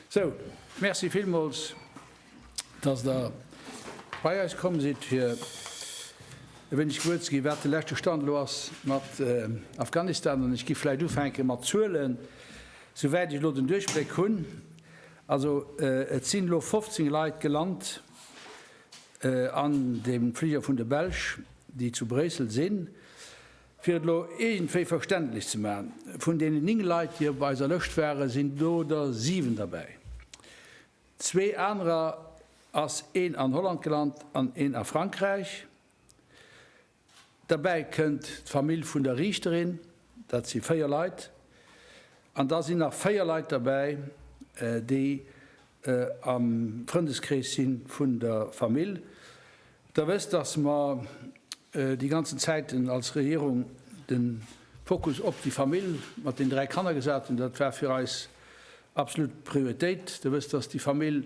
Sou, Merci villmools, dass Der bei eis komm sidd, fir e wéineg gewuer ze ginn, wat de leschte Stand elo ass mat Afghanistan. An ech giff vläicht ufänke mat Zuelen, souwäit ech elo den Duerchbléck hunn. Also et sinn elo 15 Leit gelant an dem Fliger vun de Belsch, déi zu Bréissel sinn. Fir et elo iergendwéi verständlech ze maachen, Vun deenen 9 Leit, déi op eiser Lëscht waren, sinn do der 7 derbäi. Zwee anerer ass een an Holland gelant an een a Frankräich. Derbäi kënnt d'Famill vun der Riichterin, dat si 4 Leit. An da sinn nach 4 Leit derbäi, déi am Frëndeskrees si vun der Famill. Der wësst, dass mer déi ganzen Zäiten als Regierung de Fokus op déi Famill mat den dräi Kanner gesat hunn. Dat war fir eis absolut Prioritéit. Der wësst, dass déi Famill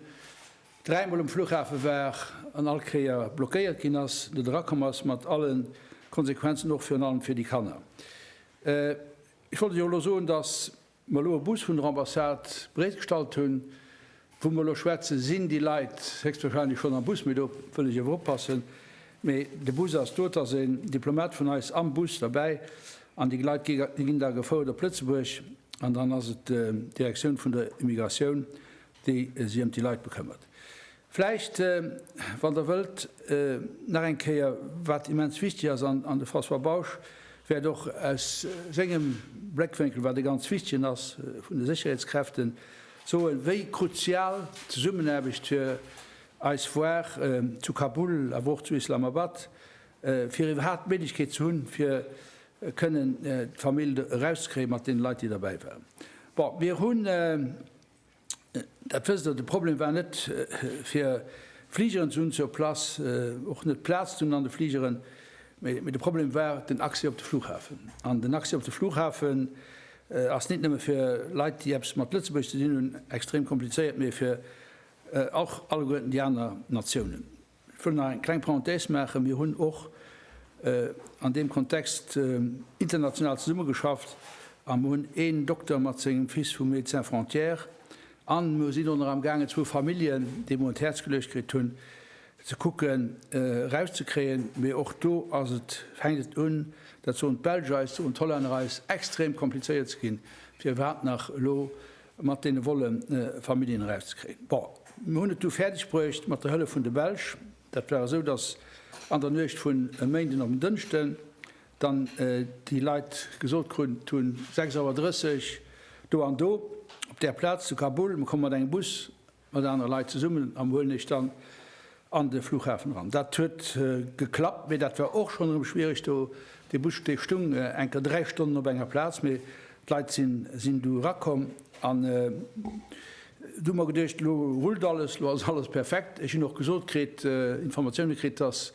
dräimol um Flughafe war an all Kéier blockéiert ginn ass, net erakomm ass, mat alle Konsequenzen, och virun allem fir déi Kanner. Ech wollt Iech och elo soen, dass mer elo e Bus vun der Ambassade bereetgestallt hunn, wou mer elo schwätzen, sinn déi Leit héchstwahrscheinlech schonn am Bus, mee do wëll ech awer oppassen, mee de Bus ass do, et ass en Diplomat vun eis am Bus derbäi an déi Leit ginn da gefouert op Lëtzebuerg an dann ass et d'Direktioun vun der Immigratioun, déi sech ëm déi Leit bekëmmert. Vläicht, wann Der wëllt, nach eng Kéier, wat immens wichtig ass, an de François Bausch wäert och aus sengem Bléckwénkel, wat e ganz wichtigen ass, vun de Sécherheetskräften, soen, wéi kruzial d'Zesummenaarbecht fir eis war zu Kabul, awer och zu Islamabad, fir iwwerhaapt d'Méiglechkeet ze hunn, fir kënnen d'Famill erauszekréien, mat deene Leit, déi derbäi waren. Bon, mir hunn. Dat wësst Der, de Problem war net fir Fligeren ze hunn sur place, och net Plaz ze hunn an de Fligeren, mee de Problem war den Accès op de Flughafen. An den Accès op de Flughafen ass nit nëmme fir Leit, déi eppes mat Lëtzebuerg ze dinn hunn, extrem komplizéiert, mee fir och alleguerten déi aner Natiounen. Ech wëll nach eng kleng Parenthèse maachen. Mir hunn och an deem Kontext international zesummegeschafft a mir hunn een Dokter mat sengem Fils vu Médecins Frontières an mir sinn och nach amgaangen, zwou Familljen, déi mer un d'Häerz geluecht kritt hunn, ze kucken erauszekréien. Mee och do ass et, fänkt et un, dat soen d'Belsch eis, soen d'Hollänner eis, extrem komplizéiert ze ginn, fir iwwerhaapt nach elo mat deene wolle Familljen erauszekréien. Bon, mir hunn et du fäerdeg bruecht, mat der Hëllef vun de Belsch. Dat war esou, datt an der Nuecht vun e Méinden op en Dënschden dann déi Leit gesot krut hunn, 6 Auer 30 do an do op där Plaz zu Kabul, mir komme mat engem Bus mat anere Leit zesummen an huelen Iech dann an de Flughafen eran. Dat huet geklappt, mee dat war och schonn erëm schwiereg do. De Bus dee stung enker 3 Stonnen op enger Plaz, mee d'Leit sinn du erakomm an du hu mer geduecht, lo rullt alles, lo ass alles perfekt. Ech hunn och gesot kritt, Informatioune kritt, dass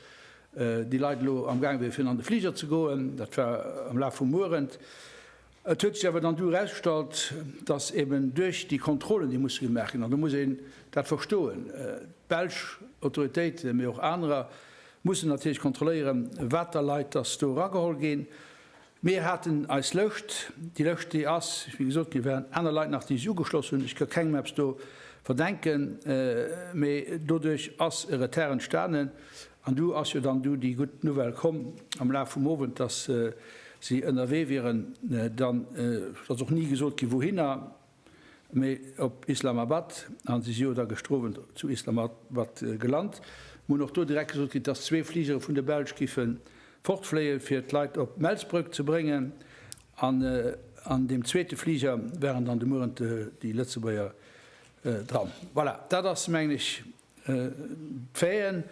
déi Leit elo amgaange wiere fir an de Fliger ze goen, dat war am Laf vum Uerend. Et huet sech awer dann du erausgestallt, datt eben duerch déi Kontrollen, déi musse gemaach ginn, an do muss een dat verstoen, d'belsch Autoritéiten, mee och anerer, mussen natierlech kontrolléieren, wat der Leit datt do erageholl ginn. Mir haten eis Lëscht. Déi Lëscht, déi ass, wéi gesot ginn, et waren aner Leit nach, déi sech ugeschloss hunn, ech ka kengem eppes do verdenken, mee doduerch ass e Retard entstanen. An du ass jo dann du déi gutt Nouvelle komm am Laf vum Owend, dass si ënnerwee wieren, dann ass och ni gesot ginn, wouhinner, mee op Islamabad. A si si jo da gestrowent zu Islamabad gelant. Mir hunn och do direkt gesot kritt, dass zwee Fligere vun der Belsch géife fortfléien, fir d'Leit op Melsbrëck ze bréngen. An an deem zweete Fliger waren dann de Mueren déi Lëtzebuerger dran. Voilà, dat ass, mengen ech, D'Faiten,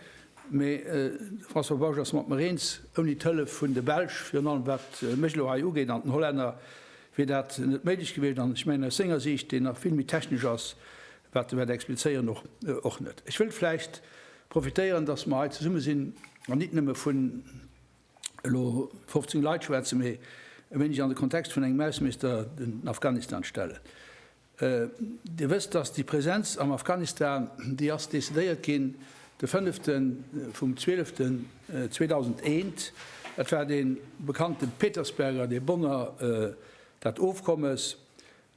mee de François Bausch ass mat mer eens, ouni d'Hëllef vun de Belsch, virun allem wat mech elo hei ugeet, an den Hollänner, wier dat net méiglech gewiescht. An ech mengen, aus senger Siicht, déi nach vill méi technesch ass, wat e wäert explizéieren, och net. Ech wëllt vläicht profitéieren, datt mer hei zesumme sinn an nit nëmme vun elo 15 Leit schwätzen, mee e wéineg an de Kontext vun engem Ausseminister den Afghanistan stellen. Dir wësst, datt déi Präsenz am Afghanistan, déi ass decidéiert ginn de fënnefte vum Zwieleften 2001. Et war dee bekannte Petersberger, dee Bonner, dat Ofkommes,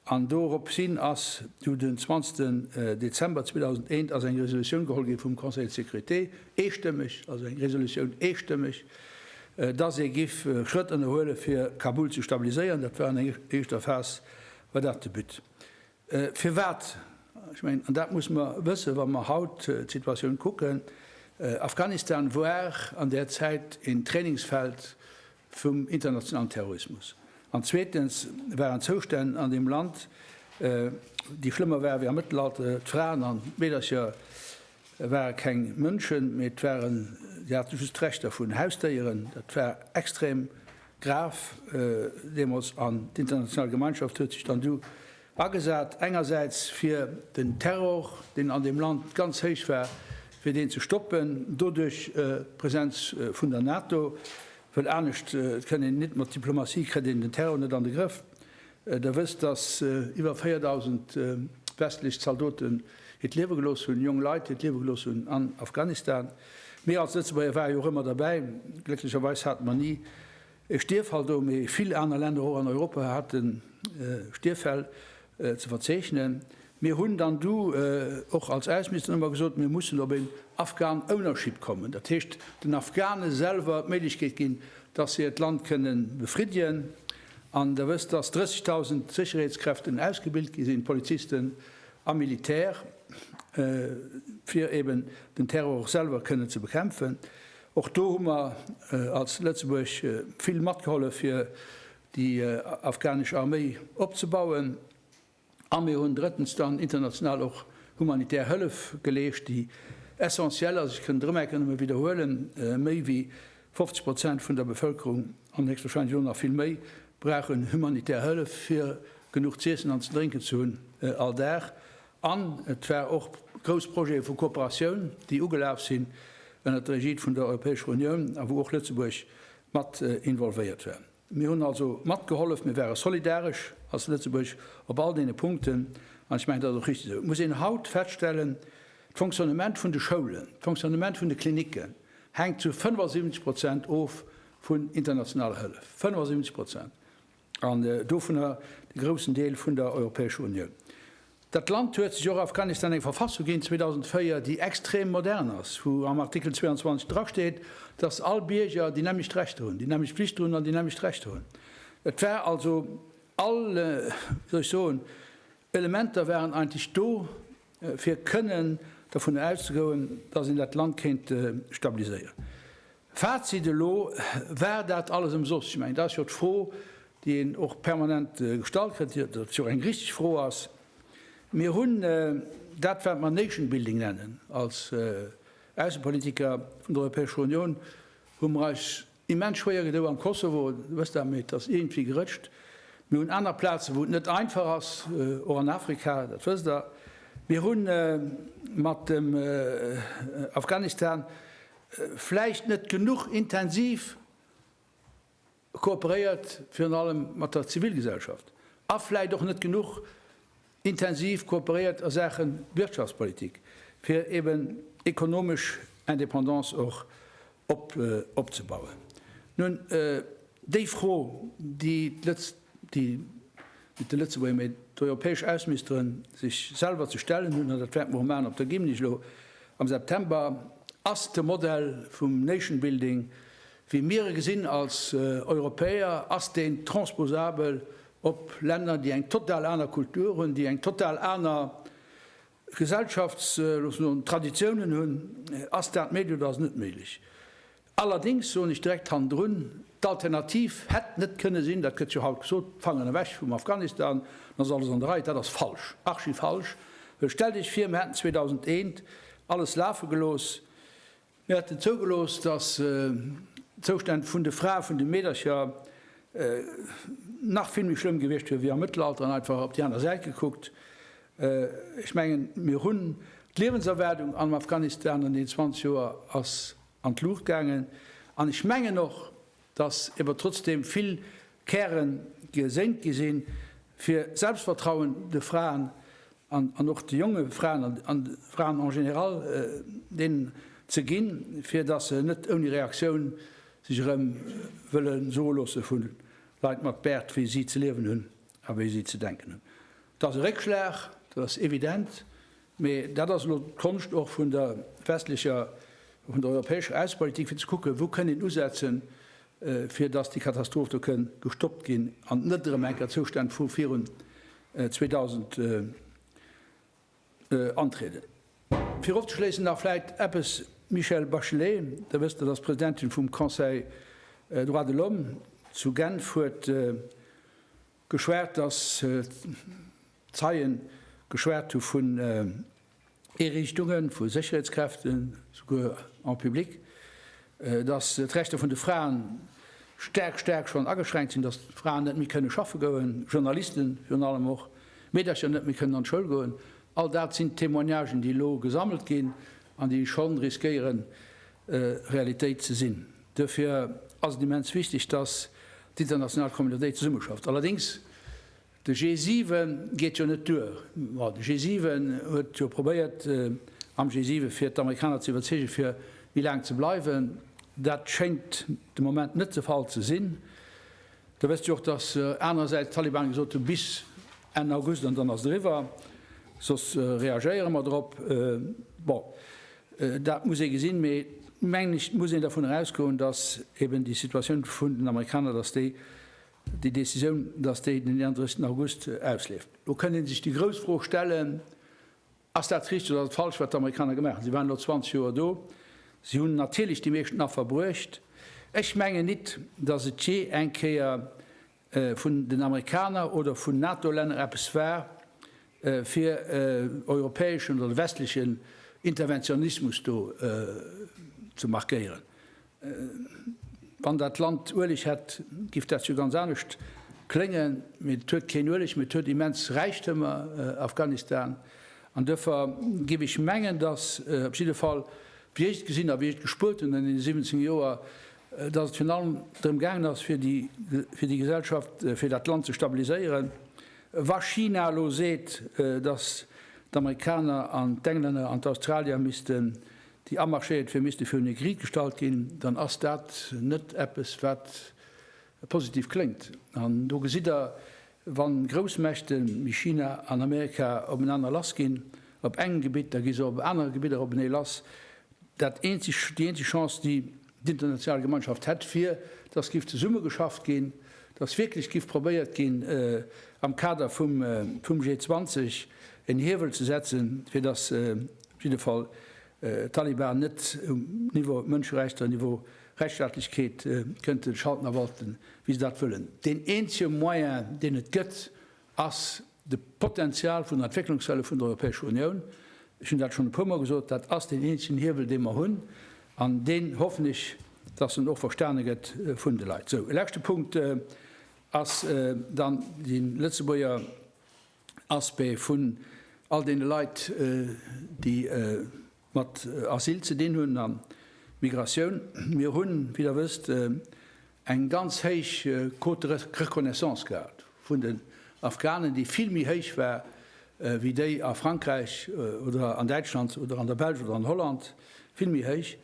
an doropshin ass du den 20 Dezember 2001 ass eng Resolutioun geholl gi vum Conseil de sécurité, eestëmmeg, also eng Resolutioun eestëmmeg, datt ee giff Schrëtt ënnerhuele fir Kabul ze stabiliséieren. Dat war an enger éischter Phas Wat ass de But? Firwat? Ech mengen, an dat muss mer wëssen, wa mer haut d'Situatioun kucken, Afghanistan war an där Zäit een Trainingsfeld vum internationalen Terrorismus. An zweetens waren d'Zoustänn an deem Land, déi schlëmmer waren, wéi am Mëttelalter. D'Fraen a Meedercher ware keng Mënschen, mee et waren, si hate just d'Recht dervun, Hausdéieren. Dat war extrem. Graf deemools, an d'international Gemeinschaft huet sech dann du agesat, engersäits fir den Terror, deen an deem Land ganz héich war, fir deen ze stoppen, doduerch d'Presenz vun der NATO, well anescht kënnt een net, mat Diplomatie kritt een den Terror net an de Grëff, Der wësst, dass iwwer 4.000 westlech Zaldoten hiert Liewe gelooss hunn, jonk Leit hiert Liewe gelooss hunn an Afghanistan. Mir als Lëtzebuerger ware jo och ëmmer derbäi. Glécklecherweis hate mer ni e Stierffall do, mee vill aner Länner och an Europa haten Stierffäll ze verzeechnen. Mir hunn dann du och als Ausseministeren ëmmer gesot, mir mussen op een Afghan Ownership kommen, dat heescht den Afghane selwer d'Méiglechkeet ginn, dass se hiert Land kënne befriddien. An Der wësst, dass 30.000 Sécherheetskräften ausgebilt gi sinn, Polizisten a Militär, fir eeben den Terror och selwer kënne ze bekämpfen. Och do hu mer als Lëtzebuerg vill matgehollef, fir déi afghanesch Arméi opzebauen. A mir hunn drëttens dann international och humanitär Hëllef geleescht, déi essentiell ass. Ech kënnen et erëm enke nëmme widderhuelen, Méi wéi 50 Prozent vun der Bevëlkerung, an héchstwahrscheinlech elo nach vill méi, brauchen humanitär Hëllef, fir genuch z'iessen an ze drénken ze hunn all Dag. An et war och grouss Projete vu Kooperatioun, déi ugelaf sinn ënnert der Egide vun der Europäescher Unioun a wou och Lëtzebuerg mat involvéiert war. Mir hunn also matgehollef, mir ware solidaresch als Lëtzebuerg op all deene Punkten, an ech mengen, dat ass och richtig esou. Et muss een haut feststellen, D'Fonctionnement vun de Schoulen, d'Fonctionnement vun de Klinicken hänkt zu 75 Prozent of vun internationaler Hëllef, 75 Prozent, an dovunner de groussen Deel vun der Europäescher Unioun. Dat Land huet sech och Afghanistan eng Verfassung ginn 2004, déi extrem modern ass, wou am Artikel 22 drasteet, dass all Bierger déi nämmlecht Rechter hunn, déi nämmlecht Flichte hunn an déi nämmlecht Rechter hunn. Et war also all, wéi soll ech soen, Elementer waren eigentlech do, fir kënnen dervun auszegoen, dass een dat Land kéint stabiliséieren. Fazit, Elo war dat alles ëmsoss. Ech mengen, dat ass jo d'Fro, déi een och permanent gestallt kritt, wat jo eng richtig Fro ass. Mir hunn dat, wat mer Nation building nennen, als Aussepolitiker vun der Europäescher Unioun hu mer eis immens schwéier gedou am Kosovo, Dir wësst dat, mee et ass iergendwéi gerëtscht. Mir hunn aner Plazen, wou et net einfach ass, och an Afrika, dat wësst Der. Mir hu mat dem Afghanistan vläicht net genuch intensiv kooperéiert, virun allem mat der Zivilgesellschaft, a vläicht och net genuch intensiv kooperéiert a Saache Wirtschaftspolitik, fir eben ekonomesch Indépendance och opzebauen. Nun, déi Fro, déi d'lëtz. déi mit de Lëtzebuerger, mee d'europäesch Ausministeren sech selwer ze stellen hunn, an dat wäerte mer och maachen op der Gymnich elo am September, ass de Modell vum Nation Building, wéi mir e gesinn als Europäer, ass deen transposabel op Länner, déi eng total aner Kultur hunn, déi eng total aner Gesellschafts loosse soen, Traditiounen hunn, ass dat méiglich oder ass net méiglich. Allerdings soen ech direkt hannendrun, d'Alternativ hätt net kënne sinn, dat gëtt jo haut gesot, Fanger ewech vum Afghanistan, dann ass alles an der Rei. Dat ass falsch, archifalsch, well stellt Iech vir, mir hätten 2001 alles lafe gelooss, Mir haten zougelooss, dass d'Zoustänn vun de Frae vun de Meedercher nach vill méi schlëmm gewiescht wier wéi am Mëttelalter an einfach op déi aner Säit gekuckt. Ech mengen, mir hunn d'Liewenserwaardung am Afghanistan an deenen 20 Joer ass an d'Luucht gaangen an ech mengen och, dass ewer trotzdem vill Käre gesenkt gi sinn, fir Selbstvertrauen de Fraen an och de jonge Fraen an de Fraen en général deenen ze ginn, fir dass se net ouni Reaktioun sech erëm wëlle soe loosse vu Leit mat Bäert, wéi si ze liewen hunn a wéi si ze denken hunn. Dat ass e Réckschlag, dat ass evident, Mee dat ass elo d'Konscht och vun der westlecher, vun der europäescher Aussenpolitik, fir ze kucken, wou kënn een usetzen, fir datt déi Katastroph do kënn gestoppt ginn an net erëm enker Zoustänn vu virun 2000 antrieden. Fir ofzeschléissen nach vläit eppes, D'Michelle Bachelet, Der wësst, dat ass d'Presidentin vum Conseil Droits de l'Homme zu Genf, huet, Geschwat, dass Zeien geschwat hu vun Eeriichtungen, vu Sécherheetskräften, souguer en public, dass d'Rechter vun de Fraen staark, staark schonn ageschränkt sinn, dass d'Fraen net méi kënne schaffe goen, Journalisten virun allem och, Meedercher net méi kënnen an d'Schoul goen. All dat sinn d'Témoignagen, déi elo gesammelt ginn an déi schonn riskéieren, Realitéit ze sinn. Duerfir ass et immens wichteg, dass d'international Communautéit zesummeschafft. Allerdéngs, de G7 geet jo net duer. Bon, de G7 huet jo probéiert, am G7 fir d'Amerikaner ze iwwerzeegen, fir méi laang ze bleiwen. Dat schéngt de Moment net de Fall ze sinn. Da wësst Dir och, dass anerersäits d'Talibanen gesot hunn, bis Enn August an dann ass et eriwwer, soss reagéiere mer drop. Bon, dat muss ee gesinn, mee mengen ech, et muss een dervun erausgoen, dass eben déi Situatioun vun den Amerikaner, dass déi, déi Décisioun, dass déi den 31. August ausleeft. Elo kënnt ee sech déi grouss Fro stellen, Ass dat richteg oder ass et falsch, wat d'Amerikaner gemaach hunn? Si waren elo 20 Joer do. Si hunn natierlech déi meeschten Affer bruecht. Ech mengen nit, datt et jee eng Kéier vun den Amerikaner oder vun NATO-Länner eppes war, fir europäeschen oder westlechen Interventionismus do ze markéieren. Wann dat Land Ueleg hätt, giff dat jo ganz anescht kléngen, mee et huet keen Ueleg, mee et huet immens Räichtëmer, Afghanistan, an duerfir giff ech mengen, dass, op jidde Fall wéi ech et gesinn a wéi ech et gespuert hunn an deene 17 Joer, dass et virun allem drëm gaangen ass fir déi Gesellschaft, fir dat Land ze stabiliséieren. Wa China elo seet, dass d'Amerikaner an d'Englänner an d'Australier misste déi amarschéiert wier, misste virun e Gericht gestallt ginn, dann ass dat net eppes, wat positiv kléngt. An do gesitt Der, wa Groussmächte wéi China an Amerika openaner lassginn op engem Gebitt, da gi se op anere Gebidder openee lass. Dat eenzegt, déi eenzeg Chance, déi. D'international Gemeinschaft hätt fir, dass giff zesumme geschafft ginn, dass wierklech giff probéiert ginn, am Kader vum G20 en Hiewel ze setzen, fir dass op jidde Fall d'Taliban net um Niveau Mënscherechter, Niveau Rechtsstaatlechkeet kënnte schalten a walten, wéi se dat wëllen. Deen eenzege Moyen, deen et gëtt, ass de Potenzial vun der Entwécklungshëllef vun der Europäescher Unioun. Ech hunn dat schonn e puermol gesot, dat ass deen eenzegen Hiewel, dee mer hunn, an deen hoffen ech, dass en och verstane gëtt vun de Leit. Sou, e leschte Punkt ass dann de Lëtzebuerger Aspect vun all deene Leit, déi mat Asyl ze dinn hunn a Migratioun. Mir hunn, wéi Der wësst, eng ganz héich Quote de reconnaissance gehat vun den Afghanen, déi vill méi héich war wéi déi a Frankräich oder an Däitschland oder an der Belsch oder an Holland, vill méi héich.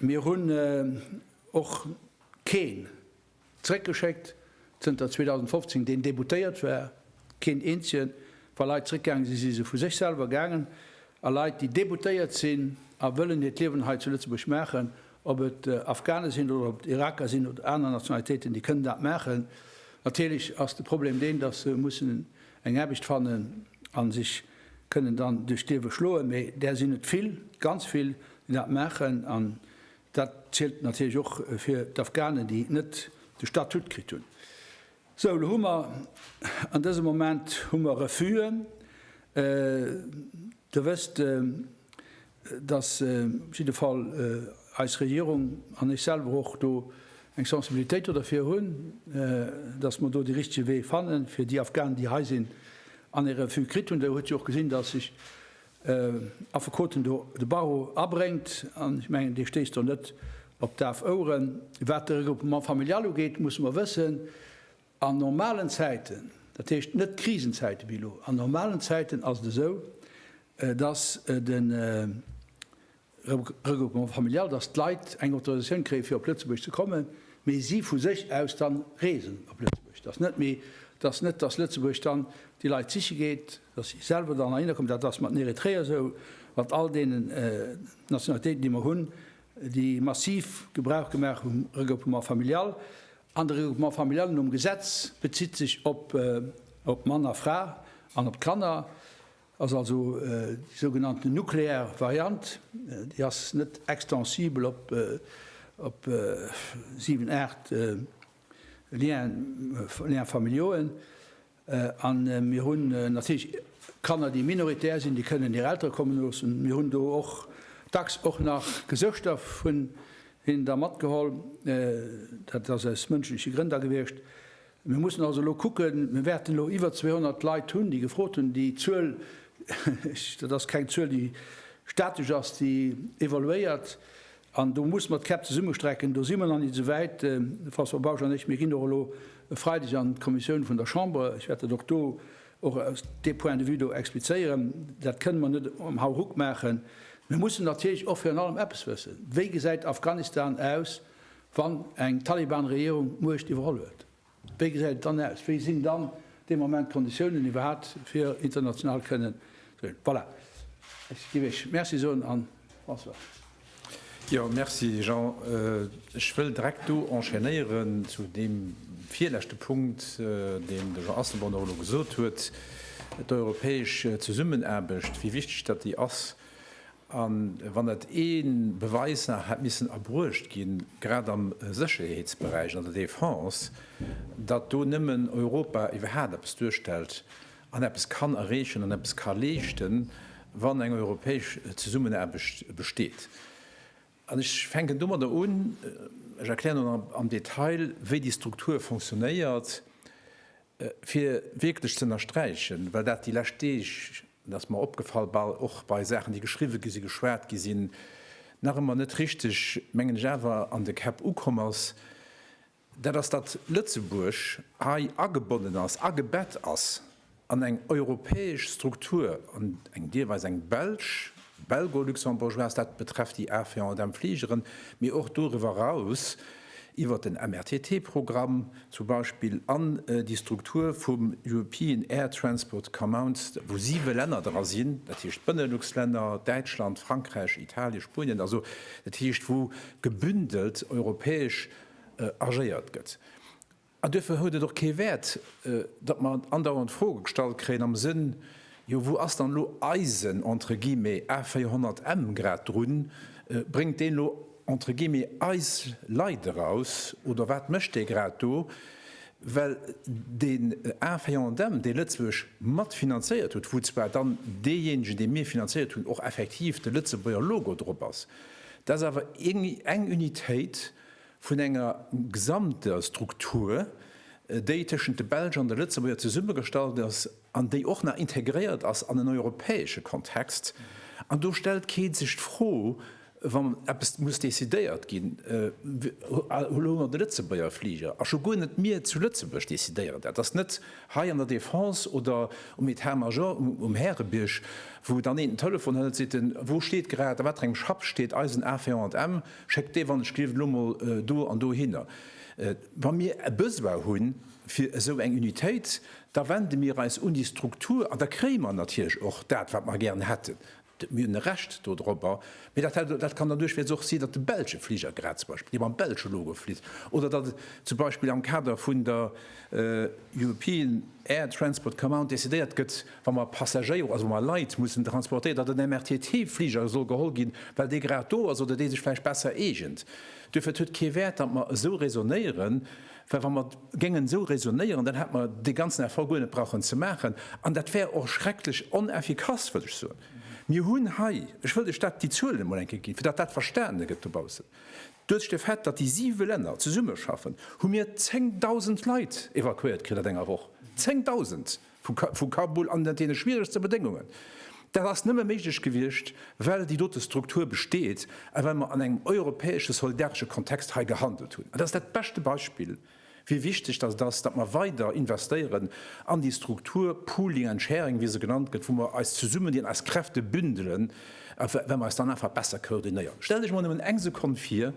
Mir hunn och keen Zréckgeschéckt, zënter 2015 deen déboutéiert war, keen eenzegen. Wa Leit zréckgaange si, si se vu sech selwer gaangen. A Leit, déi déboutéiert sinn a wëllen hiert Liewen hei zu Lëtzebuerg maachen, ob et Afghane sinn oder ob et Iraker sinn oder aner Nationalitéiten, déi kënnen dat maachen. Natierlech ass de Problem deen, datt se mussen eng Aarbecht fannen a sech kënnen dann duerch d'Liewe schloen. Mee där sinn et vill, ganz vill, déi dat maachen. An Dat zielt natierlech och fir d'Afghanen, déi net de Statut kritt hunn. Sou, elo hu mer, an dësem Moment hu mer Refus'en. Der wësst, dass op jidde Fall eis Regierung an ech selwer och do eng Sensibilitéit do derfir hunn, dass mer do dee richtege Wee fannen, fir déi Afghanen, déi hei sinn an ee Refus kritt hunn. Der hutt jo och gesinn, dass ech Affekoten do de Barreau abréngt, an ech mengen, dee stéisst do net op daf Oueren. Wat de Regroupement familial ugeet, musse mer wëssen, an normalen Zäiten, dat heescht net Krisenzäite wéi elo, an normalen Zäiten ass et esou, dass de. Regroupement familial, dass d'Leit eng Autorisatioun kréien, fir op Lëtzebuerg ze kommen, mee si vu sech aus dann reesen op Lëtzebuerg. Dass net méi, dass net, dass Lëtzebuerg dann déi Leit siche geet, dass si selwer dann heihinner kommen. Dat ass mat den Eritreeër esou, mat all deenen Nationalitéiten, déi mer hunn, déi massiv Gebrauch gemaach hu vum Regroupement familial. An de Regroupement familial nom Gesetz bezitt sech op Mann a Fra an op d'Kanner. Ass also déi sougenannten nuklear Variant. Déi ass net extensibel op op 7, 8 Lien, Liens familiauxen. An mir hunn natierlech Kanner, déi minoritär sinn, déi kënnen hir Eltere kommen loossen. Mir hunn do och dacks och nach Gesëschter vun hinnen da matgeholl. Dat ass aus mënschleche Grënn da gewiescht. Mir mussen also elo kucken, mir wäerten elo iwwer 200 Leit hunn, déi gefrot hunn. Déi Zuel, dat ass keng Zuel, déi statesch ass, déi evoluéiert. An do muss mer d'Käpp zesummestrecken. Do si mer nach net esouwäit, de François Bausch an ech. Mir ginn och elo e Freideg an d'Kommissioun vun der Chamber. Ech wäert dat och do, och aus deem Point de vue do explizéieren. Dat kënnen mer net um Hauruck maachen. Mir mussen natierlech och virun allem eppes wëssen, Wéi gesäit Afghanistan aus Wann eng Taliban-Regierung d'Muecht iwwerholl huet, wéi gesäit et dann aus? Wéi sinn dann dee Moment d'Konditiounen iwwerhaapt fir international kënnen ze goen? Voilà, ech géif Iech Merci soen an Bonsoir. Jo, Merci Jean. Ech wëll direkt do enchaînéieren zu deem virleschte Punkt, deen de Jean Asselborn och elo gesot huet, d'europäesch Zesummenaarbecht, wéi wichteg datt déi ass. A wann dat ee Beweis nach hätt missen erbruecht ginn, grad am Sécherheetsberäich, an der Defense, datt do nëmmen Europa iwwerhaapt eppes duerstellt an eppes kann erreechen an eppes ka leeschten, wann eng europäesch Zesummenaarbecht besteet. An ech fänken domadder un, ech erklären dann am Detail, wéi déi Struktur fonctionnéiert, Fir wierklech ze ënnersträichen, well dat déi lescht Deeg, dat ass mer opgefall, bal och bei Saachen, déi geschriwwe gi sinn, geschwat gi sinn, nach ëmmer net richteg, mengen ech, awer an de Käpp ukomm ass, dat ass, datt Lëtzebuerg hei agebonnen ass, agebett ass an eng europäesch Struktur, an eng deelweis eng belsch, Belgo-Luxembourgeoise, dat betrefft déi Affaire dem Fligeren, mee och doriwwer eraus, iwwert den MRTT-Programm zum Beispill an déi Struktur vum European Air Transport Commons, wou siwe Länner dra sinn, dat heescht d'Benelux-Länner, Däitschland, Frankräich, Italien, Spuenien, also dat heescht wou gebündelt europäesch agéiert gëtt. An duerfir huet et och kee Wäert, datt mer andauernd Froe gestallt kréien am Sënn, Jo, wou ass dann elo eisen, entre guillemets, A 400 M grad drun? Bréngt deen elo, entre guillemets, eis Leit eraus oder wat mécht dee grad do? Well deen A 400 M, dee Lëtzebuerg mat finanzéiert huet, wou zwar dann deejéinegen, dee mir finanzéiert hunn, och effektiv de Lëtzebuerger Logo drop ass, dat ass awer eng Unitéit, vun enger gesamter Struktur, déi tëschent de Belsch an de Lëtzebuerger zesummegestallt ass an déi och nach integréiert ass an en europäesche Kontext. An do stellt kee sech d'Fro, wa eppes muss decidéiert ginn, Elo hu mer de Lëtzebuerger Fliger, a scho guer net mir zu Lëtzebuerg decidéieren dat. Dat ass net hei an der Defense oder um Etat-Major um Härebierg, wou dann een den Telefon hëlt, seet en, Wou steet grad, a wat fir engem Schapp steet eisen Avion? Schéckt dee Wannechglift elo mol do an dohinner. Wa mir e Besoin hu fir esou eng Unitéit, da wende mir eis un déi Struktur an da kréie mer natierlech och dat, wat mer gären hätten. Mir hunn e Recht dodropper. Mee dat hätt, dat kann dann duerchweis och sinn, datt de belsche Fliger grad zum Beispill, dee mam belsche Logo flitt, oder datt zum Beispill am Kader vun der European Air Transport Command decidéiert gëtt, wa mer Passagéier, also wa mer Leit mussen transportéieren, datt en MRTT-Fliger soll geholl ginn, well dee grad do ass oder dee sech vläicht besser eegent. Duerfir et huet kee Wäert, datt mer esou räsonnéieren, well wa mer géingen esou räsonnéieren, dann hätt mer dee ganzen Effort guer net brauchen ze maachen an dat wär och schrecklech oneffikass, wëll ech soen. Mir hunn hei, ech wëllt lech dat, déi Zuelen emol eng Kéier ginn, fir datt dat verstane gëtt dobaussen, duerch de Fait, datt déi siwe Länner zesummeschaffen, hu mir 10.000 Leit evakuéiert kritt at enger Woch. 10.000! vu Kabul an deene schwieregste Bedéngungen. Dat ass nëmme méiglech gewiescht, well déi dote Struktur besteet a well mer an engem europäesche soldaresche Kontext hei gehandelt hunn. An dat ass dat beschte Beispill, wéi wichteg datt et ass, datt mer weider investéieren an déi Struktur, pooling and sharing, wéi se genannt gëtt, wou mer eis zesummedinn, eis Kräfte bündelen, well mer eis dann einfach besser koordinéieren. Stellt Iech emol nëmmen eng Sekonn vir,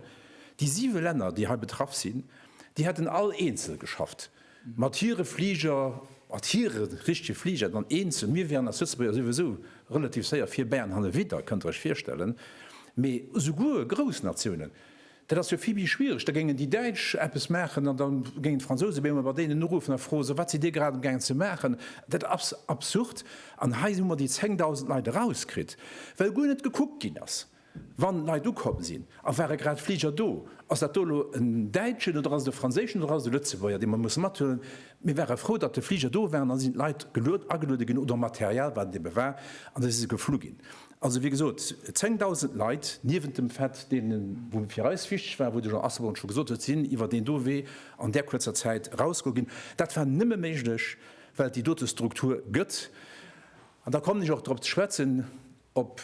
déi siwe Länner, déi hei betraff sinn, déi hätten all eenzel geschafft. Mat hire Fliger, mat hire richtege Fliger, dann eenzel. Mir wieren als Lëtzebuerger souwisou relativ séier vir bäi an hannerwidder, kënnt Der Iech virstellen. Mee esouguer grouss Natiounen, dat ass jo vill méi schwiereg. Da géingen déi Däitsch eppes maachen an da géingen d'Fransouse bemol emol bei deenen uruffen a froen, Sou, wat sidd Dir grad amgaangen ze maachen? Dat ass absurd. An hei hu mer déi 10.000 Leit erauskritt, well guer net gekuckt ginn ass. Wann Leit ukomm sinn, a ware grad Fliger do, ass dat do elo en Däitschen oder ass et e Franséischen oder ass et e Lëtzebuerger, dee mer musse mathuelen? Mir ware frou, datt de Fliger do war an da sinn d'Leit geluet, ageluede ginn oder Material, wat et ebe war, an da si se geflu ginn. Also, wéi gesot, 10.000 Leit, niewent dem Fait deene wou fir eis wichteg war, wou de Jean Asselborn scho gesot huet, sinn iwwer deen do Wee an där kuerzer Zäit erausgeholl ginn. Dat war nëmme méiglech, well et déi dote Struktur gëtt. An da kommen ech och drop ze schwätzen, Op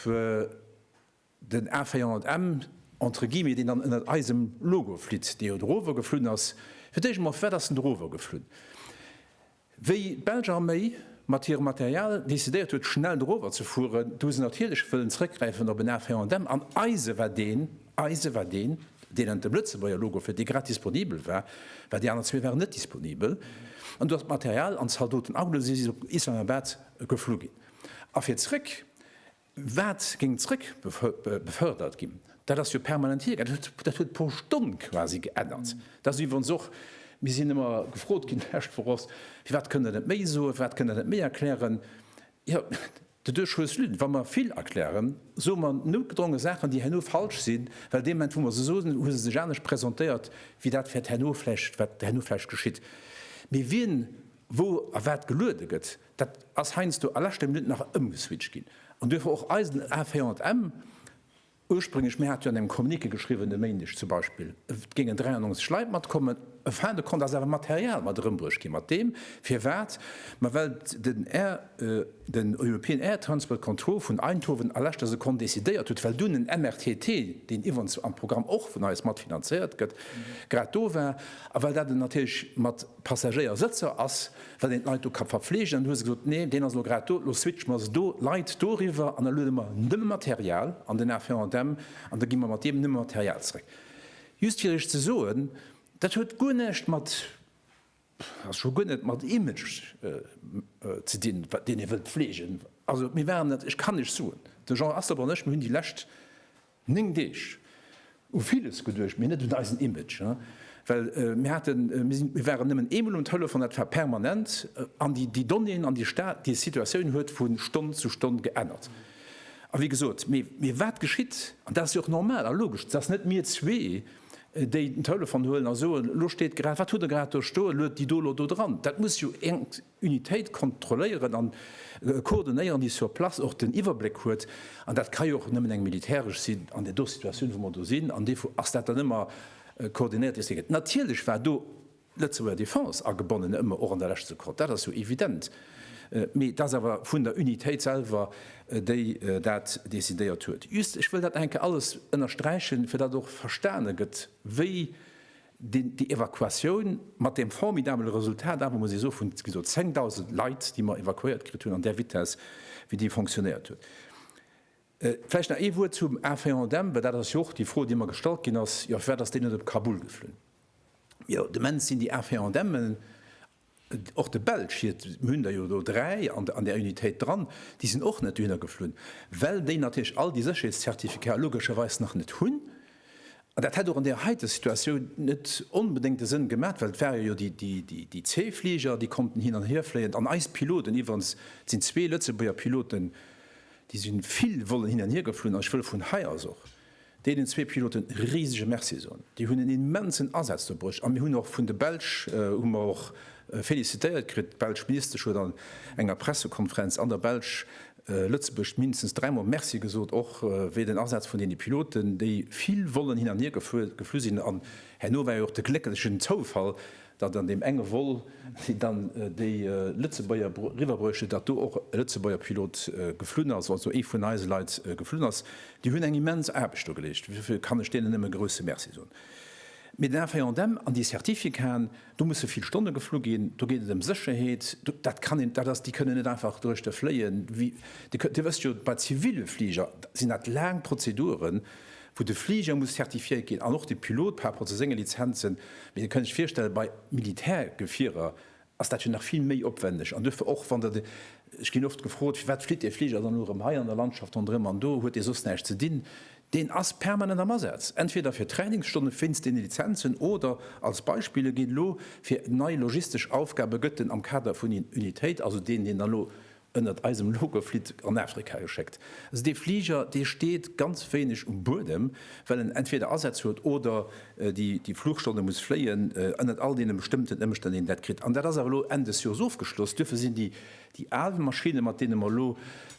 den A400M, entre guillemets, deen dann ënnert eisem Logo flitt, dee jo dorower geflunn ass, fir d'éischt emol, firwat ass en dorower geflunn? Wéi d'belsch Arméi mat hirem Material decidéiert huet, schnell dorower ze fueren, du hu se natierlech wëllen zrëckgräifen op en A400M. An eise war deen, eise war deen, deen ënnert dem Lëtzebuerger Logo flitt, dee grad disponibel war, well déi aner zwee waren net disponibel. An du ass d'Material an d'Zaldoten alleguer si si op Islamabad geflu ginn. A fir zréck, wat géing zréck befördert ginn? Dat ass jo permanent hiergaangen. Dat huet pro Stonn quasi geännert. Dat ass iwwerens och, mir sinn ëmmer gefrot ginn d'lescht Woch och, firwat kënnt Der net méi soen, firwat kënnt Der net méi erklären? Jo, de deux choses l'une, wa mer vill erklären, soe mer noutgedronge Saachen, déi herno falsch sinn, well dee Moment, wou mer se soen, hu se sech anescht presentéiert wéi dat, wat herno vläicht geschitt. Mee wien wou a wat geluede gëtt, Dat ass heiansdo a leschter Minutt nach ëmgeswitcht ginn an duerfir och eisen A400M. Ursprénglech, mir hate jo an engem Communiqué geschriwwen e Méindeg zum Beispill, et géingen 93 Leit matkommen, e Fin de compte ass awer Material mat erëmbruecht ginn, mat deem, firwat mer, well den Air, den European Air Transport Control vun Eindhoven a leschter Sekonn decidéiert huet, well dunn en MRTT, deen iwwerens am Programm och vun eis matfinanzéiert gëtt, grad do war a well dat natierlech mat. Passagéiersëtzer ass, well een d'Leit do ka verfleegen. An du hues gesot, nee, deen ass elo grad do, elo switche mer se do, Leit doriwwer, an da luede mer nëmme Material an den Avion-à-Dämm an da gi mer mat deem nëmme Material zeréck. Just fir Iech ze soen, dat huet guer näischt mat, also scho guer net mat Image ze dinn, deen ee wëllt fleegen. Also mir waren dat, ech kann Iech soen, de Jean Asselborn an ech, mir hunn déi lescht 9 Deeg u villes geduecht, mee net un eisen Image, well mir haten, mir waren nëmmen eemol um Telefon, dat war permanent, an déi Donnéeën an déi Stad, déi Situatioun huet vu Stonn zu Stonn geännert. A wéi gesot, mee wat geschitt, an dat ass jo och normal a logesch, dass net mir zwee, déi den Telefon huelen a soen, elo steet grad, wat hutt Der grad do stoen, luet déi do elo do dran, dat muss jo Unitéit kontrolléieren an koordinéieren, déi sur place och den Iwwerbléck huet. An dat ka jo och nëmmen eng militäresch sinn an där do Situatioun, wou mer do sinn. An duerfir ass dat dann ëmmer koordinéiert, wéi et geet. Natierlech war do d'Lëtzebuerger Defense agebonnen, ëmmer och an der lescht Sekonn, dat ass jo evident. Mee et ass awer vun der Unitéit selwer, déi dat decidéiert huet. Just, ech wëll dat nach eng Kéier alles ënnersträichen, fir datt och verstane gëtt, wéi Déi Evakuatioun mat deem formidabele Resultat awer, muss ee soen, vun, wéi gesot, 10.000 Leit, déi mer evakuéiert kritt hunn, an där Vitesse, wéi déi fonctionnéiert huet. Vläicht nach ee Wuert zum A-Feindem, well dat ass jo och déi Fro, déi mer gestallt ginn ass, Jo, firwat ass deen net op Kabul geflunn? Jo, de Mens sinn déi A-Feindemmen Och de Belsch, hir hunn der jo do dräi an där Unitéit dran, déi sinn och net dohinner geflunn, well déi natierlech all déi Sécherheetszertificate logescherweis nach net hunn. An dat hätt och an där heite Situatioun net onbedéngt e Sënn gemat, well et ware jo déi zwee Fliger, déi konnten hin an hier fléien. An eis Piloten, iwwerens, et sinn zwee Lëtzebuerger Piloten, déi si vill wollen hin an hier geflunn. An ech wëll vun hei aus och deenen zwee Piloten e risege Merci soen. Déi hunn en immensen Asaz do bruecht a mir hunn och vun de Belsch hu mer och félicitéiert kritt. D'belsch Ministesch huet an enger Pressekonferenz an der Belsch Lëtzebuerg mindestens dräi Mol Merci gesot, och wéi den Asaz vun deene Piloten, déi vill Vollen hin an hier geflu sinn. An herno war jo och de glécklechen Zoufall, datt an deem enge Vol, deen dann déi Lëtzebuerger riwwer bruecht huet, datt do och e Lëtzebuerger Pilot geflunn ass, also ee vun eise Leit geflunn ass. Déi hunn eng immens Aarbecht do geleescht, dofir kann ech deenen nëmme e grouse Merci soen. Mee den FANDM an déi Certificaten, do musse vill Stonne geflu ginn, do geet et ëm Sécherheet, dat kann een, dat ass, déi kënnen net einfach duerch de fléien. Dir wësst jo, bei zivile Fliger sinn dat laang Prozeduren, wou de Fliger muss zertifiéiert ginn an och de Pilot par rapport zu senge Lizenzen, mee Dir kënnt Iech virstellen, bei Militärgefierer ass dat jo nach vill méi opwändeg an duerfir och, wann Der de, ech ginn oft gefrot, firwat flitt Är Fliger dann elo erëm hei an der Landschaft ronderëm an do huet dee soss näischt ze dinn, deen ass permanent am Asaz, entweder fir Trainingsstonne wéinst deene Lizenzen oder, als Beispill, e geet elo fir nei logistesch Aufgabe, gëtt en am Kader vun Unitéit, also deen, deen dann elo Ënnert eisem Logo flitt an Afrika geschéckt. Dee Fliger, dee steet ganz wéineg um Buedem, well en entweder Asätz huet oder déi Flugstonne muss fléien, ënnert all deene bestëmmten Ëmstänn, déi een dat kritt. An dat ass awer elo Enn des Joers ofgeschloss. Duerfir sinn déi al Maschinne, mat deene mer elo